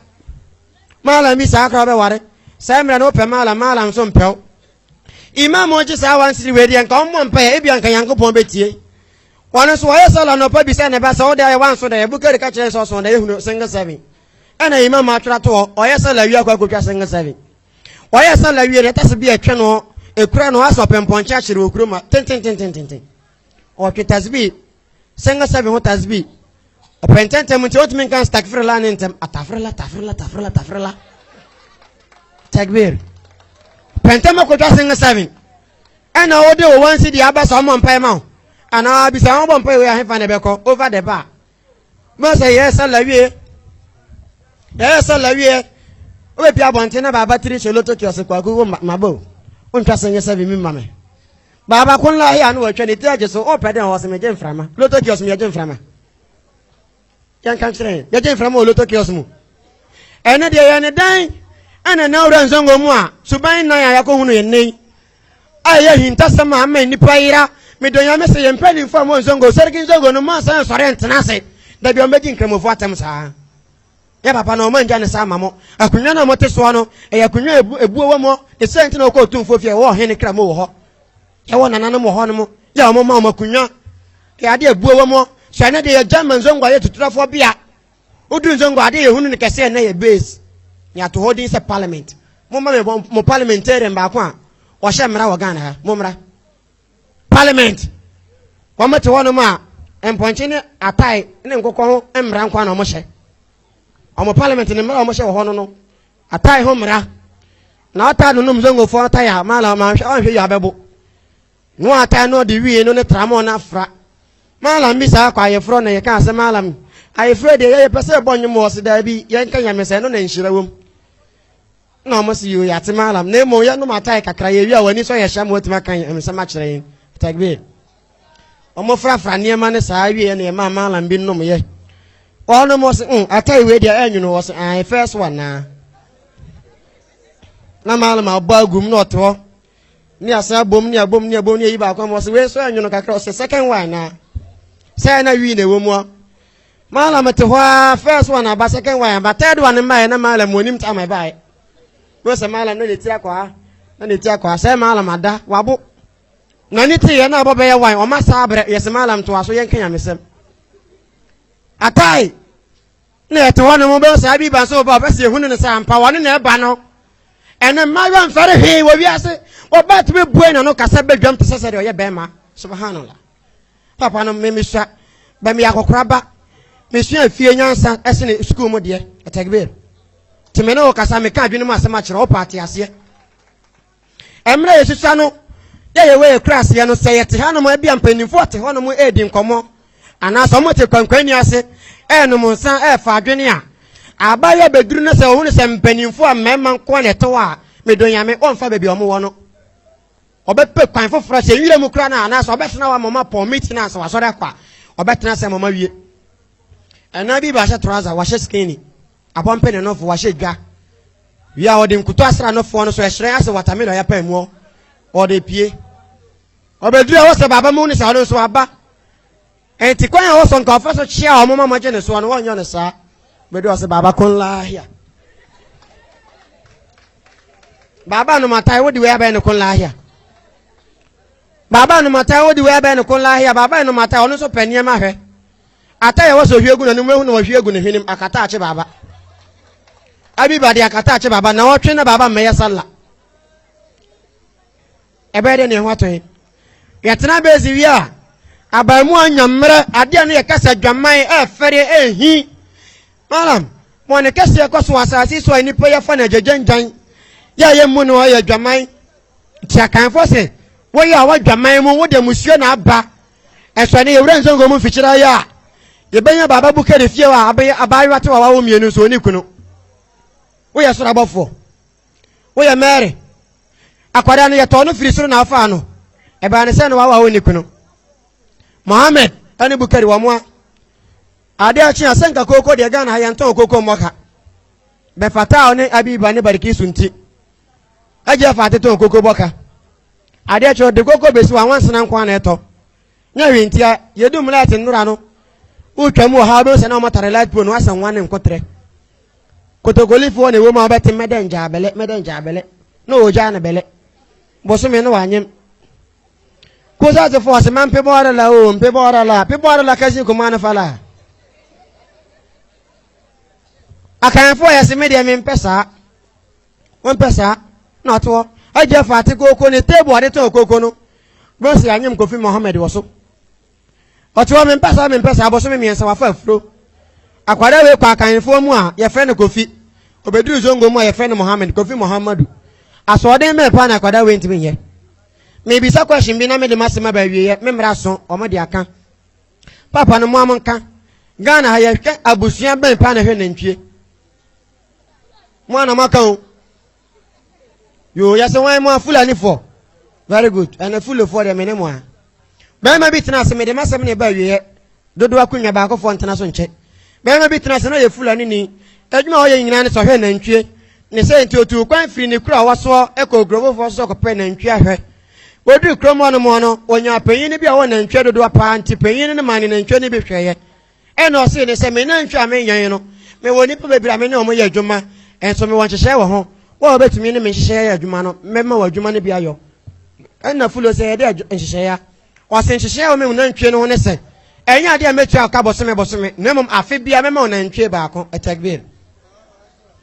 Malam bi saa koraa wobɛware. Saa mmerɛ no wopɛ malam, malam nso mpɛw. Imam ɔgye saa one siri wei deɛ nka ɔmmɔ mpaeɛ ebia nka Nyankopɔn bɛtie. Wɔn nso wɔyɛ sɛ lɔnɔpa bisa ne ba sɛ wode ayɛ wanso dɛ Bukari ka kyerɛ sɛ ɔsɔn dɛ ehunu single seven. Ɛna imam atwerɛ to hɔ ɔyɛ sɛ lawia kɔ akɔtwa single seven. Ɔyɛɛ sallah wie no, ɛtase bi a ɛtwɛ no, ɛkura no asɔ pɛmpɔnkye akyere wɔ kurom a tentententententen. Ɔtwe tasbi, sɛnga sɛbi ho tasbi. Ɔpɛ ntɛntɛm nti ɔtumi nka stakfirila ne ntɛm. Atafirila, tafirila, tafirila, tafirila. Takbir. Pɛ ntɛm akɔtwa sɛnga sɛbi. Ɛna ɔde wɔ wɔn si deɛ aba sɛ ɔmɔ mpae ma wo. Anaa bisa wɔn bɔ mpae wei ahefa na ɛbɛkɔ over the bar. mo sɛ yɛyɛ sala wie yɛyɛ sala wie wobɛpia abɔnten na baaba tiri hyɛ loto kiɔse kwaku wo maba o wontwa sɛ nyɛ sɛbi me ma me baaba ko nla hea no wɔatwa ne ti agye so wopɛ dɛn ɔwɔ sɛ megye mframa loto kiɔse mu yɛgye mframa yɛnka nkyerɛ yɛgye mframa wɔ loto kiɔse mu ɛne deɛ yɛ ne dan ɛna na wura nsɛngo mu a suban nan a yɛakɔhunu yɛ nnɛ yi a ɛyɛ ahintasɛm a ama nnipa yera me dɔ nyame sɛ yɛn mpanyinfoɔ a mo nsongo sɛriki nsongo no mo nsan sɔre ntena ase dabi wɔn bɛgye nkramofoɔ atɛm saa yɛ papa no wɔn angya ne saa ma mo akonnwa no a mote soɔ no ɛyɛ akonnwa a ebuo wɔ mo ne sɛ nti na wɔkɔ otumfoɔ fie ɛwɔ ɔhene kra mo wɔ hɔ yɛwɔ nananom wɔ hɔ no mo yɛ wɔn ma wɔn akonnwa yɛ adeɛ ebuo wɔ mo sɛ ɛne deɛ yɛ gyama nsongo ayɛ tuturafoɔ bea Odu Nsongo ade yɛ hunu no kɛse ɛnɛ yɛ base ne ato hɔ din sɛ parliament. Mo mma me bɔ mo parliamentarian baako a ɔhyɛ mmara wɔ Ghana ha. Mo mmra. Parliament. Wɔn mo te hɔ nom a mpɔnkye ne atae ne nkokɔ ho mmara nko na wɔn hyɛ. Wɔn parliament ne mmara wɔn hyɛ wɔ hɔ no no atae ho mmara. Na ɔtaa no nom Nsongofoɔ atae a maala ɔma nhwɛ ɔnhwɛ yi abɛbo. Nua ata no ɔde wie no ne tramɔ no afra Mallam bi saa kwa ayefrɔ na yɛka sɛ Mallam ayefrɛ deɛ yɛyɛ pɛ sɛ ɛbɔ nwom wɔ se daabi yɛnka nyame sɛ ɛno na nhyira wom na ɔmo se yoo yɛate Mallam na mmom yɛnom atae kakra yɛwie a w'ani sɔ yɛhyɛ ma watumi aka nsɛm akyerɛ yɛn takbir ɔmo frafra nneɛma no saa wie na yɛmaa Mallam bi nom yɛ ɔnom ɔse mm atae wei deɛ ɛnwono ɔse ae fɛs wa naa na Mallam abɔ agum na ɔte hɔ ne asan abom ne abom ne abom ne ayi baako ama ɔsɛ wei nso ɛnwono kakra ɔsɛ second one na sɛ na wii na ɛwɔ mu a maala mete hɔ a first one aba second one aba third one mmaeɛ na maala mu anim ta ma ɛbaeɛ wei sɛ maala na n'eti akɔ ha na n'eti akɔ ha sɛ maala ma da wabo na ne te yɛ na abɔ bɛyɛ wan ɔma saa abrɛ yɛsɛ maala ntoa so yɛnka nyamesɛm atae na yɛte hɔ no mobɛyɛ saa bi ba so ba ɔbɛ sɛ yɛhunu no sɛ ampa wɔne na ɛba no ɛne mmaayewa mfɛre hwee wɔ wiase wɔba tumi bue na no kasa bɛdwam te sɛ sɛ deɛ ɔyɛ bɛrima subhanallah papa no me mesua bɛ meyɛ akɔkora ba mesua fie nyansa ɛsene sukuu mu deɛ ɛtɛgbir tumi ne wo kasa meka adwene mu asɛm akyerɛ wopɛ ate aseɛ Mmerɛ yɛtwitwa no yɛ yɛwɔ yɛ kuraseɛ no, sɛ yɛte hanom a, ebia mpanimfoɔ a wɔte hɔnom redi nkɔmmɔ anaasɛ wɔte kwankwanni ase renom nsa refa adwene a, abaayewa bɛduru na sɛ ɔhunu sɛ mpanimfoɔ a mmarima nko ara na ɛte hɔ a, medɔ Nyame, ɔremfa baabi a wɔwɔ no. Ɔbɛpɛ kwan foforɔ sɛ nwira mu koraa no a, anaasɛ ɔbɛtena hɔ ama wɔn apɔn meeting a, sɛ wasɔre akɔ a, ɔbɛtena ase ama wɔawie. Ɛnaa bi bɛahyɛ trouser, wahyɛ skinny. Abɔmpe ne nofo wahyɛ dwa. Wie a ɔde nkuto asra nofo no so ɛhyerɛn ase watermelon ya paa mu ɔde pie. Ɔbɛduru a wɔsɛ baaba mu ne sɛ ɔno nso aba. Ɛnti kwan a wɔsɔ nka ɔfa so kyea wɔn ma wɔgye ne soɔ no wɔnyɛ no saa. Bɛduru ɔsɛ baaba kon laahia. Baaba nomatae wodi wei abɛyɛ ne kon laahia. Baaba nomatae wodi wei abɛyɛ ne kon laahia. Baaba nomatae ɔno nso pɛ nneɛma hwɛ. Ata yɛ wɔsɔ hwie gu n'anim ehu na wɔhwie agu ne hwenem akata akye baaba. Abiba de akata akye baaba na ɔtwe na baaba mmɛyɛ salla. Ɛbɛyɛ dɛ ne ho atɔ yɛn. Yɛtena bɛsi wie a abaamu anya mmerɛ adeɛ no yɛ kasa dwaman ɛɛfɛre ɛɛhi. Malam wɔn kɛseɛ kɔ so asase so a nnipa yɛfa no agyagyanyan yɛ a yɛmmu no ɔyɛ dwaman. Nti akanfoɔ sɛ wɔyɛ a wɔdwaman mu wode musuo na aba Ɛsɛ ne yɛwura nsɛnkɔm mu mfikyire ayɛ a yɛbɛnya baaba bu kari fie a abɛyɛ abaayewa te wawawo mmienu nso ne kunu. Woyɛ soro abɔfoɔ. Woyɛ Mary. Akwadaa no yɛtɔɔ no firi soro na afaa no. Ɛbaa ne sɛ na wawawo ne kunu. Mohammed ɛne Bukari wɔn a ade akye a sɛnka kooko deɛ Ghana ha yɛntɔn kooko mmɔ ka. Bɛfataa ne Abiba ne Barikisu nti. Agye afa atetɔn kooko bɔ ka. Adeɛ kyɛ ɔde koko bɛsi hɔ a nwansena nko ara na ɛtɔ nyɛ hwee ntia yɛdum light nnora no wotwa mu wɔ ha wobɛhu sɛ na wɔmatare light pole no asɛ nwa ne nkoterɛ kotokolifoɔ na ɛwɔ mu a wobɛte mɛdɛ ngyaa bɛlɛ mɛdɛ ngyaa bɛlɛ na ɔgyaa no bɛlɛ bosome no wanyem kosa te fɔ ase ma mpebɔ ara la o mpebɔ ara la mpebɔ ara la kasi kuma no fa la akanfoɔ yɛ se me deɛ mempɛ saa Wompɛ saa? Na ɔte hɔ. Agya fa ate kooko ne table ɔde tɔn kooko no. Bose anyem Kofi Mohammed wɔ so. Ɔte hɔ mempɛ saa mempɛ saa bosome mmiɛnsa wafa afuro. Akwadaa wei kɔ akanfoɔ mu a yɛfrɛ no Kofi. Obeduru Zongo mu a yɛfrɛ no Mohammed, Kofi Mohammadu. Asoɔden bɛn paa na akwadaa wei ntumi nyɛ? Mebisa question bi na mede m'asɛm aba awieɛ, me mmara so, wɔn de aka. Papa no moa mo nka. Ghana ha yɛhwɛ abusua bɛn paa na ɛhwɛ nantwie? mo ana mo aka o yoo yɛsɛ wɔn mo a fulanifoɔ very good ɛna fulofoɔ deɛ mene mo a bɛrima bi tena ase mede masɛm ne ɛba awieɛ dodo akonnwa baakofoɔ ntena so nkyɛ bɛrima bi tena ase na ɔyɛ fulani ni adwuma a ɔyɛ nyinaa ne sɛ ɔhwɛ nantwie ne sɛ nti otu kwan firi ne kuro a wasoɔ ɛkɔ kurofofoɔ so kɔpɛ nantwie ahwɛ wɔduru kurom hɔ nom no wɔnya panyin no bi a ɔwɔ nantwie dodoɔ paa nti panyin no ma ne nantwie no bi hwɛeɛ Ɛnna ɔsee no sɛ, Me nantwi a menyan no, mewɔ nnipa bebree a me ne wɔn yɛ adwuma, nso mewɔ nhyehyɛe wɔ ho. Wo a wobetumi ne me nhyehyɛ ayɛ adwuma no, mɛma wo adwuma no bi ayɔ. Ɛnna Fulo sɛ, Ɛdeɛn nhyehyɛe a? Ɔse, Nhyehyɛe a ɛwɔ me nantwie no ho ne sɛ, ɛnyɛ adeɛ a mɛtua wo ka bosome bosome, na mmom afe biara mɛma wo nantwie baako. Tekbir!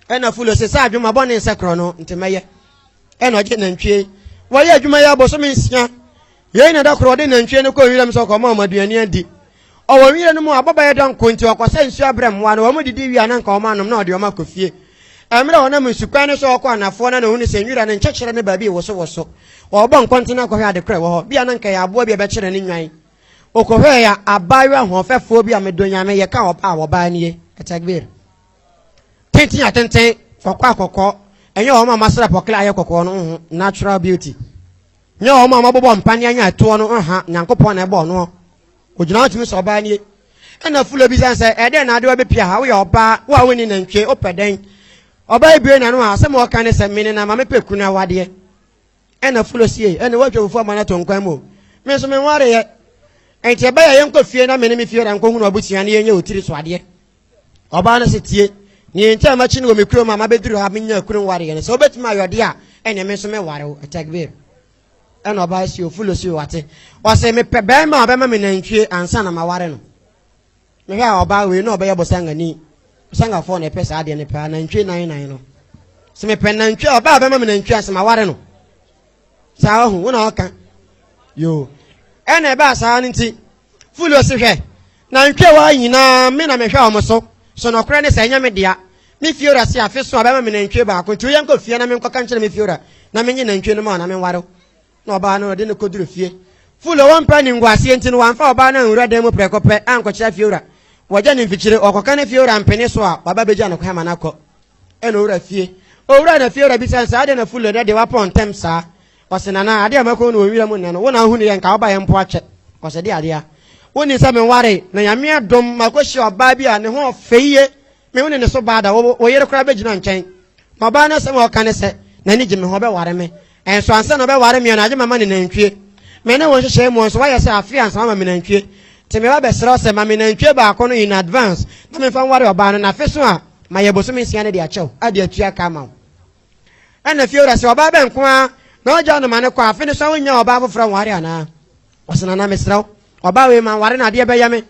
Ɛnna Fulo se, Saa adwuma bɔne nsɛ korɔ no nti mɛyɛ. Ɛnna ɔgye nantwie. Wɔyɛ adwuma yi ara bosome nsia. Yei na da koro ɔde nantwie no kɔɔ nwiram sɛ ɔkɔma wɔn aduane adi. Ɔwɔ nwira no mu a, abɔbaeɛ dɔ nko nti, ɔkɔsɛ nsuo abrɛ mmoa no. Wɔdidi wie a, na anka wɔanom na ɔde wɔn akɔ fie. Mmerɛ a ɔnam nsukwan no so rekɔ anafoɔ no na ɔhunu sɛ nwira no nkyɛkyerɛ ne baabi rewosowoso. Ɔrebɔ nkɔntene akɔhwɛ ade korɔ a ɛwɔ hɔ. Bia na anka ɛyɛ aboa bi a ɛbɛkyerɛ ne nnwan. Ɔkɔhwɛɛe a, abaayewa hoɔfɛfoɔ bi a medɔ Nyame, yɛka ɔbaa a, ɔbaa nie. Takbir. Tenten atenten, kɔkɔɔ a kɔkɔɔ. Ɛnyɛ wɔn a wɔasra pɔkla ayɛ kɔkɔɔ no, nhu, natural beauty. Nyɛ wɔn a wɔabobɔ mpaneɛ anya ɛtoɔ no nha, Nyankopɔn na ɛbɔɔ noɔ. Ɔgyina hɔ tumi sɛ ɔbaa nie. Ɛna Fulo bisane sɛ, Ɛdɛn na ade wabɛpia ha? Woyɛ ɔbaa, wo a wonni nantwie, wopɛ dɛn? Ɔbaa yi buee n'ano a, asɛm a ɔka ne sɛ, Mene na ma mepɛ kunu awadeɛ. Ɛna Fulo siee, Ɛne woatwa fufuo ama no ato nkwan mu o, me nso menwareeɛ. Enti ɛbɛyɛ a yɛnkɔ fie na me ne me fiewura nkɔhunu abusua na yɛnyɛ otiri so adeɛ. ɔbaa no se tie nea enti a makyi no wɔ me kurom a mabɛduru ha menya kunu nwareɛ no sɛ wobɛtumi ayɛ ɔde a ɛne me nso meware wo takbir ɛna ɔbaa si ofulo si wate ɔse mepɛ bɛrima a ɔbɛma me nantwie ansa na maware no mehwɛ a ɔbaa wei na ɔbɛyɛ bosangani bosangafoɔ na ɛpɛ saa adeɛ no paa nantwie nan nan no sɛ mepɛ nantwie a ɔbaa bɛma me nantwie ansa maware no saa ɔho wo na ɔka yoo ɛna ɛbaa saa no nti fulo se hwɛ Na ntweawa yi nyina me na mehwɛ wɔn so, so nɔkorɛ ne sɛ ɛnyɛ me dea? Me fiewura se afe so a ɔbɛma me nantwie baako, nti wo yɛnkɔ fie na menkɔka nkyerɛ me fiewura na menye nantwie no ma wo na menware wo. Na ɔbaa no de no kɔduru fie. Ful ɔwɔ mpɛ ne nguaseɛ nti no wamfa ɔbaa no anwura dan mu prɛko pɛ ankɔkyerɛ afiewura. Wɔgya no mfikyire, ɔkɔka ne fiewura mpene so a waba bɛgya no kwan ma no akɔ. Ɛna ɔwura fie. Ɔwura na fiewura bisa no sɛ adɛn na Ful nnɛ de woapɔn ntɛm saa? Ɔse nana adeɛ a mɛkɔhu no wɔ nwira mu nnɛ no wo na ahunu yɛ nka woba yɛ mpo akyɛ ɔse deɛ adeɛ a wonni sɛ menware na nyame adom makɔhyia ɔbaa bi a ne ho ɔfɛ yie me wo ne ne so baa da wo yere koraa bɛgyina nkyɛn ma ɔbaa no asɛm a ɔka ne sɛ n'ani gye me ho ɔbɛware me ɛnso ansa na ɔbɛware me no agye mama ne nantwie me ne wo nhyehyɛe mu nso wayɛ sɛ afe ansa wama me nantwie nti meba bɛsrɛ wo sɛ ma me nantwie baako no in advance na memfa nware ɔbaa no na afe so a mayɛ bosome nsia no de akyɛw ade atua ka ama wo Ɛna fie wura sɛ ɔbaa bɛn nko ara na ɔgya no ma no kɔ afe no so a wonnya ɔbaa foforɔ nware anaa? Ɔsɛ nana mesrɛ wo ɔbaa wei ma nware no adeɛ bɛyɛ me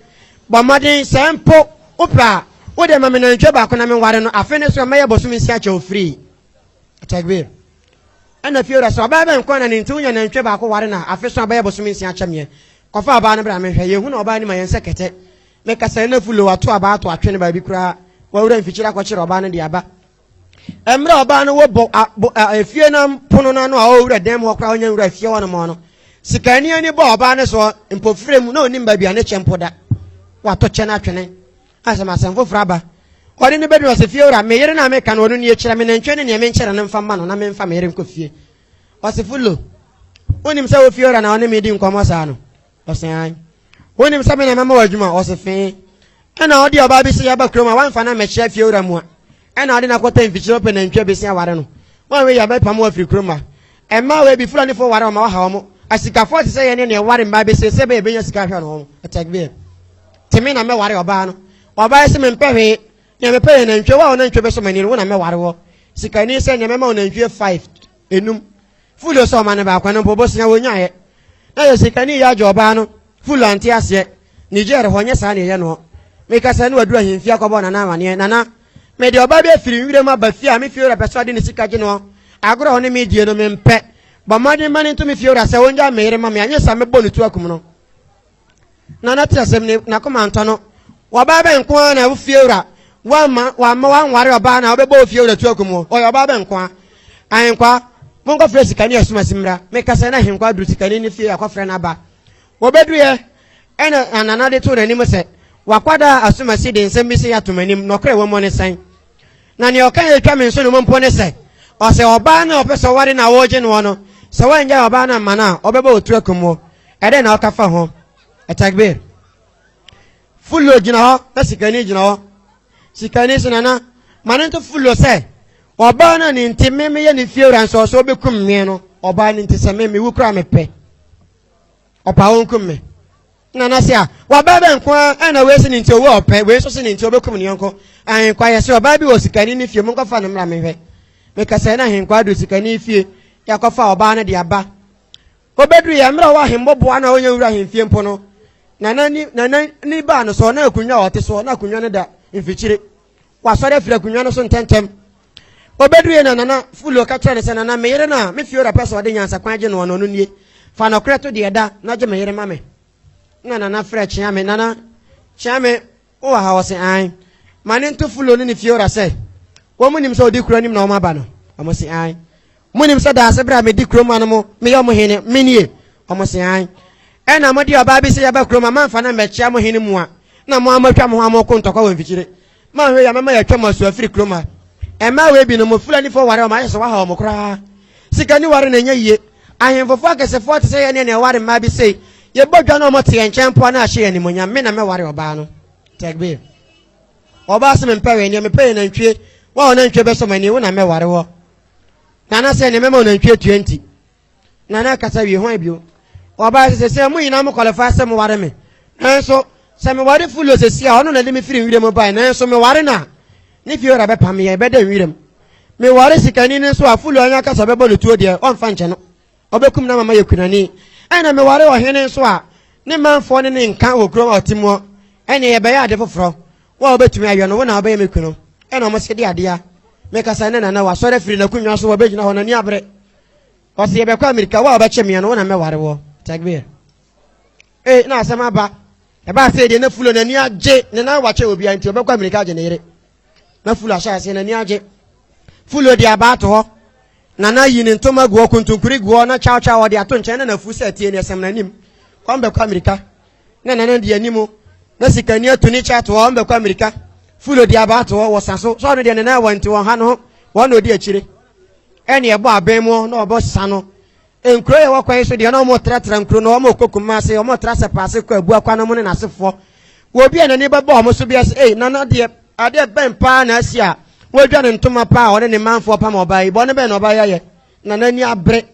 bɔ mmɔden sɛ mpo wopɛ a wode ma me nantwie baako na menware no afe no so mɛyɛ bɔsom nsia kyɛ wo firii Takbir ɛna fie wura sɛ ɔbaa bɛn nko na ne nti wonya nantwie baako ware no a afe so a bɛyɛ bɔsom nsia kyɛ meɛ kɔfa ɔbaa no bra menhwɛ yɛhu na ɔbaa no ma yɛn sɛ kɛtɛ mekasa ɛna fulo ato abaa ato atwe no baabi koraa wawura mfikyiri akɔkyere ɔbaa no de aba Mmerɛ a ɔbaa no wɔ bo, a, bo, a, efie no pono no ano a ɔwura dan mu hɔ koraa ɔnyɛ nwura fie hɔ nom no, sikani ani bɔɔ ɔbaa no soɔ mpofire mu na ɔnim baabi a ne kyɛ mpo da. Wato kyɛ no atwene. Asɛm asɛm foforɔ aba. Ɔde no bɛduru ɔsɛ fie wura, me yere no a meka no ɔno nie kyerɛ me nantwie ne neɛ menkyɛrɛ no mfa mma no na memfa me yere nkɔ fie. Ɔsefo Lo, wonim sɛ wo fie wura na ɔne me di nkɔmmɔ saa no? Ɔse aane. Wonim sɛ me na mama wo adwuma? Ɔse fee. Ɛna ɔde ɔbaa bi se yɛba kurom a woamfa no ammɛkyea fiewura mu a ɛna ɔde no akɔtɛ mfikyire wopɛ nantwie a bɛsi aware no woanwei a mɛpamo wo afiri kurom a Mmaa wei bi Fulanifoɔ ware wɔn ma wɔha wɔn asikafoɔ te sɛ yɛne na ɛware mmaa bi seesei bɛyɛ bɛnya sika ahwɛ no wɔn Ɛtɛgbie te me na mɛware ɔbaa no ɔbaa se mempɛ hwee nea mepɛ yɛ nantwie wo a wo nantwie bɛsɔ m'ani no wo na mɛware wɔ sikani sɛ nea mɛma wo nantwie 5 enum. Fulu sɛ ɔma no baako no mpo, bosea wonyaeɛ. Na yɛ sikani yi agye ɔbaa no. Fulu ante aseɛ. Niger hɔ, nyɛ saa na yɛyɛ noɔ. Meka sɛ, ne waduru ahemfie akɔbɔ Nana amaneɛ. Nana, mede ɔbaa bi afiri nwuram aba fie a me fiewura pɛ sɛ ɔde ne sika gye noɔ. Agorɔ a ɔne me redie no, mempɛ. Bɔ mmɔden ma no nto me fiewura sɛ ɔngyae me yere ma me, anyɛ saa mɛbɔ no tuo akum no. na n'ate asɛm ne n'akoma ntɔ no. Ɔbaa bɛn nko ara na wo fiewura wamma wamma wanware ɔbaa na ɔbɛbɔ wo fiewura tu akum wo? Ɔyɛ ɔbaa bɛn nko ara? Ahenkwa, monkɔfrɛ sikani asumasi mmra. Meka sɛ na Ahenkwa aduru sikani no fie akɔfrɛ n'aba. Wɔbɛduruiɛ ɛna Anana de too n'anim sɛ, W'akwadaa asumasi de nsɛm bi sei ato m'anim, nɔkorɛ wɔ mu ne sɛn? Na nea ɔka a etwa me nso ne mo mpo ne sɛ, ɔsɛ ɔbaa no a ɔpɛ sɛ ɔware no a woregye noɔ no, sɛ woannyae ɔbaa no amma no a, ɔbɛbɔ wo tu akum wo. Ɛdɛn na woka fa ho? Atakbir! Fullo gyina hɔ na sikani gyina hɔ. Sikani se, Nana, ma no nto Fullo sɛ, Ɔbaa no a ne nti me meyɛ ne fiewura nso ɔsɛ ɔbɛkum me no, ɔbaa no nti sɛ me mewu koraa a mepɛ. ɔpa wo nkum me na na se a wabaa bɛ nko a ɛna wei se ne nti owó ɔpɛ wei nso se ne nti ɔbɛkum ne yɔnko ahenkwa yɛ se ɔbaa bi wɔ sikani ne fie monkɔfa no mmra mehwɛ mekasɛɛ na ahenkwa adu sikani fie yɛakɔfa ɔbaa no de aba obɛduru yɛ mmerɛ ɔwɔ ahemmɔboa no a ɔnyɛ wura ahemfie mpo no nana ni nana ni baa no soɔ na akonnwa a ɔte soɔ na akonnwa no da mfikyire Wasɔre afiri akonnwa no so ntɛmntɛm. Obeduruiɛ na Nana Fulio ka kyerɛɛ no sɛ, Nana, me yere no a me Fiora pɛ sɛ ɔde nyansakwan agye noɔ no, ɔno nie. Fa nɔkorɛ to deɛ ɛda na gye me yere ma me. Ɛnna Nana frɛɛ Kyeame, Nana, Kyeame, wowɔ ha? Ɔse, Aane. Ma ne nto Fulio ne ne Fiora sɛ wɔn nim sɛ ɔdi kuro anim na wɔn aba no. Wɔse, Aane. Monim sɛ daase berɛ a medi kurom ma no mo, meyɛ ɔmo hene, menie? Ɔmo se, Aane. Ɛna mo de ɔbaa bi se yɛba kurom a moamfa no ammɛkyea mo hene mua, na mo ara moatwa mo ho a moreko ntɔkwa wɔ mfikyire. Moanhwɛ yie a mɛma yɛatwa mo asu afiri kurom ha. Mmaa wei bi no, mo Fulanifoɔ ware wɔn ayɛ sɛ wɔahaw mo koraa. Sika ni ware na ɛnyɛ yie. Ahemfofoɔ akɛsefoɔ te sɛ yɛn ne na ɛware mmaa bi sei. Yɛbɔ dwa na wɔn te yɛn nkyɛn mpo a na ahyɛ yɛn animuonyam. Me na mɛware ɔbaa no. Tɛgbir. Ɔbaa se mempɛ wei, neɛ mepɛ yɛ nantwie. Wo a wo nantwie bɛsɔ m'ani, wo na mɛware woɔ. nana sɛ ne mɛma ɔnantwi atua nti nana kasa wie hwan bio ɔbaa sɛ sɛ mo nyinaa mo kɔlɛfa sɛ moware me nanso sɛ meware fulo sɛsi a ɔno na de me firi nwira mu bae nanso meware no a ne fie wura bɛpa me yɛ bɛda nwira mu meware sikani no nso a fulo anya kasa bɛbɔ no tuo deɛ ɔmfa nkyɛ no Ɔbɛkum no ama mayɛ kunani. Ɛnna meware ɔhene nso a ne manfoɔ ne no nka wɔ kurom a ɔte muɔ. Ɛnneɛ yɛbɛyɛ ade foforɔ. Wo a wobɛtumi ayɛ no, wo na wobɛyɛ me kunu. Ɛnna wɔn se, De adeɛ a mekasa nnɛ na nnɛ wasɔre afiri n'akonnwa so, wabɛgyina hɔ, n'ani abere. Ɔse, Yɛbɛkɔ Amerika, wo a wobɛkye meɛ no, wo na mɛware woɔ. Takbir. Ee, na asɛm aba. Ɛbaa sɛ deɛ na Fulo n'ani agye ne nan wakyɛ obiara nti, ɔbɛkɔ Amerika agye ne yere. na fulu ahyɛ aseɛ n'ani agye fulu ɔde aba ato hɔ na na yi ne ntoma gu hɔ kontonkuri gu hɔ na kyawkyaw ɔde ato nkyɛn na na fu sɛ tie ne ɛsɛm n'anim kɔm bɛkɔ amirika na nana di anim na sikani atu ne kyɛ ato hɔ ɔmbɛkɔ amirika fulu ɔde aba ato hɔ wɔ sa so sɛ ɔno deɛ nana wɔnte wɔn ha no ho wɔn na ɔdi akyire ɛne ɛbɔ abɛn mu na ɔbɔ sa no Nkuro a ɛwɔ kwan yi so deɛ na wɔtratra nkuro no, wɔkɔ Kumase, wɔtra Sɛpase kɔ Abua kwan no mu ne n'asefoɔ. Wɔ obi a n'ani bɛbɔ wɔn so biara sɛ, Ei, Nana deɛ, adeɛ bɛn paa na asi a wadwa ne ntoma paa a ɔne ne manfoɔ pam ɔbaa yi? Bɔne bɛn na ɔbaa yi ayɛ? Nana ani abere.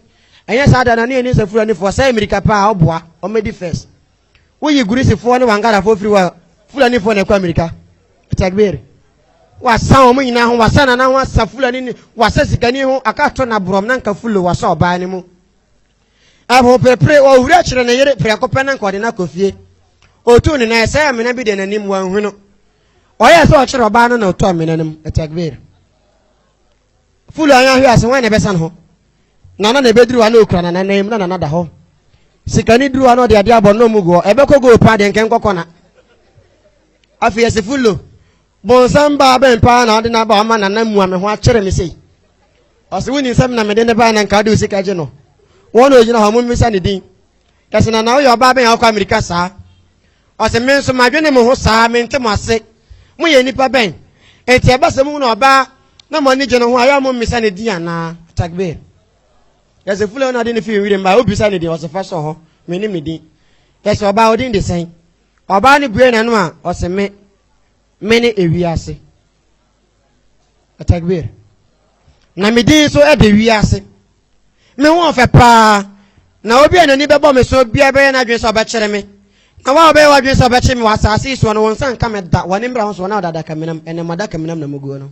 Ɛnyɛ saa da, Nana yɛ ne nsafuranifoɔ, ɔsɛe mmirika paa, ɔboa, ɔmmɛdi first. Woyi Gurisifoɔ ne Wangarafoɔ firi hɔ a, Fulanifoɔ na ɛkɔ amirika. Takbir. Wasa wɔn nyinaa ho, wasa nana ho, asa Fulani ne, wasa sikani ho, aka to na borɔm na nka fulo wasa ɔbaa no mu. Ɛho perepere, ɔwura kyerɛ ne yere prɛko pɛ na nka ɔde no akɔ fie. Ɔtu ne nan, ɛsɛ amena bi de n'anim, wanhu no. Ɔyɛ sɛ ɔkyerɛ ɔbaa no na ɔtu amena no mu. Takbir. Fulu a yɛanhwɛ ase, hwan na ɛbɛsan ho? Nana na ɛbɛduru a na ɔkura Nana nan mu na Nana da hɔ. Sika no duru a na ɔde adeɛ abɔ no mu goɔ. Ɛbɛkɔ goal paa deɛ nkɛnkɔ kɔna. Afei yɛsi Fulu, bonsam baa bɛn paa na ɔde no aba ɔma Nana mua me ho akyere me sei. Ɔse wonim sɛ me na mede ne baa na nka ɔde wo sika gye no. Wɔn na ɔgyina hɔ, mommisa ne din. Kɛse na na woyɛ ɔbaa bɛn a wokɔ amirika saa? Ɔse, Me nso madwene mo ho saa, mente mo ase. Moyɛ nnipa bɛn? Enti ɛba sɛ mohunu ɔbaa na mo ani gye ne ho a, yɛ a mommisa ne din anaa? Takbir. Yɛse, Fulani na de no fii nwirim bae, wobisa ne din? Ɔse, Fa sɔ hɔ, mennim ne din. Yɛse, Ɔbaa, wo din de sɛn? Ɔbaa no bue n'ano a, ɔse, Me. Mene ewiase. Atakbir. Na me din nso de wiase. Me ho ɔfɛ paa. Na obi a n'ani bɛbɔ me so biara bɛyɛ n'adwene sɛ ɔbɛkyere me. Na wo a wobɛyɛ w'adwene sɛ wobɛkyere me wɔ asaase yi soɔ no, wo nsa nka me da. W'ani mmra wo so, wɔn a wɔde adakaminam, ɛnam adakaminam na muguo no.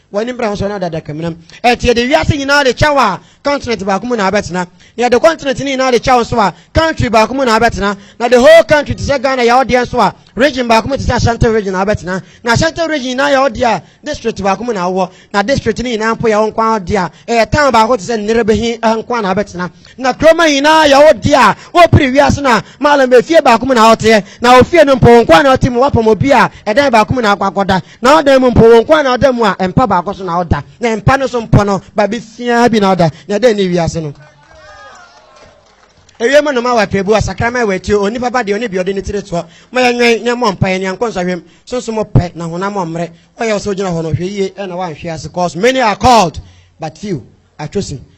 W'ani mbra nsɔ no adadaka mu na ɛte yɛde wiase nyinaa de kyɛw a continent baako mu na abɛtena na yɛde continent ne nyinaa de kyɛw nso a country baako mu na abɛtena na the whole country te sɛ Ghana yɛ ɔdeɛ nso a region baako mu te sɛ Ashanti region na abɛtena na Ashanti region nyinaa yɛ ɔdeɛ a district baako mu na awɔ na district ne nyinaa mpo yɛ ɔnko ɔdeɛ a ɛyɛ town baako te sɛ Nnerebehi nko na abɛtena na kuroma nyinaa yɛ ɔdeɛ a wɔpiri wiase na malam efie baako mu na ɔteɛ na ofie no mpo nko na ɔte mu wapam obi a ɛdan baako mu na akɔ akɔda N'adan mu mpo, wɔn nko ara na ɔda mu a mpa baako so na ɔda, na mpa no so mpo no, baabi siaa bi na ɔda, na dɛn ne wiase no? Ewiem nnoma wɔ apirebu, asakraman wɔ atuo, onipa ba deɛ ɔne bi ɔde ne tiri toɔ. Mma yɛnwɛn, na yɛmmɔ mpaeɛ, na yɛnkɔ nsɔhwɛm. Sunsum ɔpɛ, na honam ɔmmrɛ. Ɔyɛ wo sɛ wogyina hɔ no, hwɛ yie na woanhwe ase, cause many are called, but few are chosen.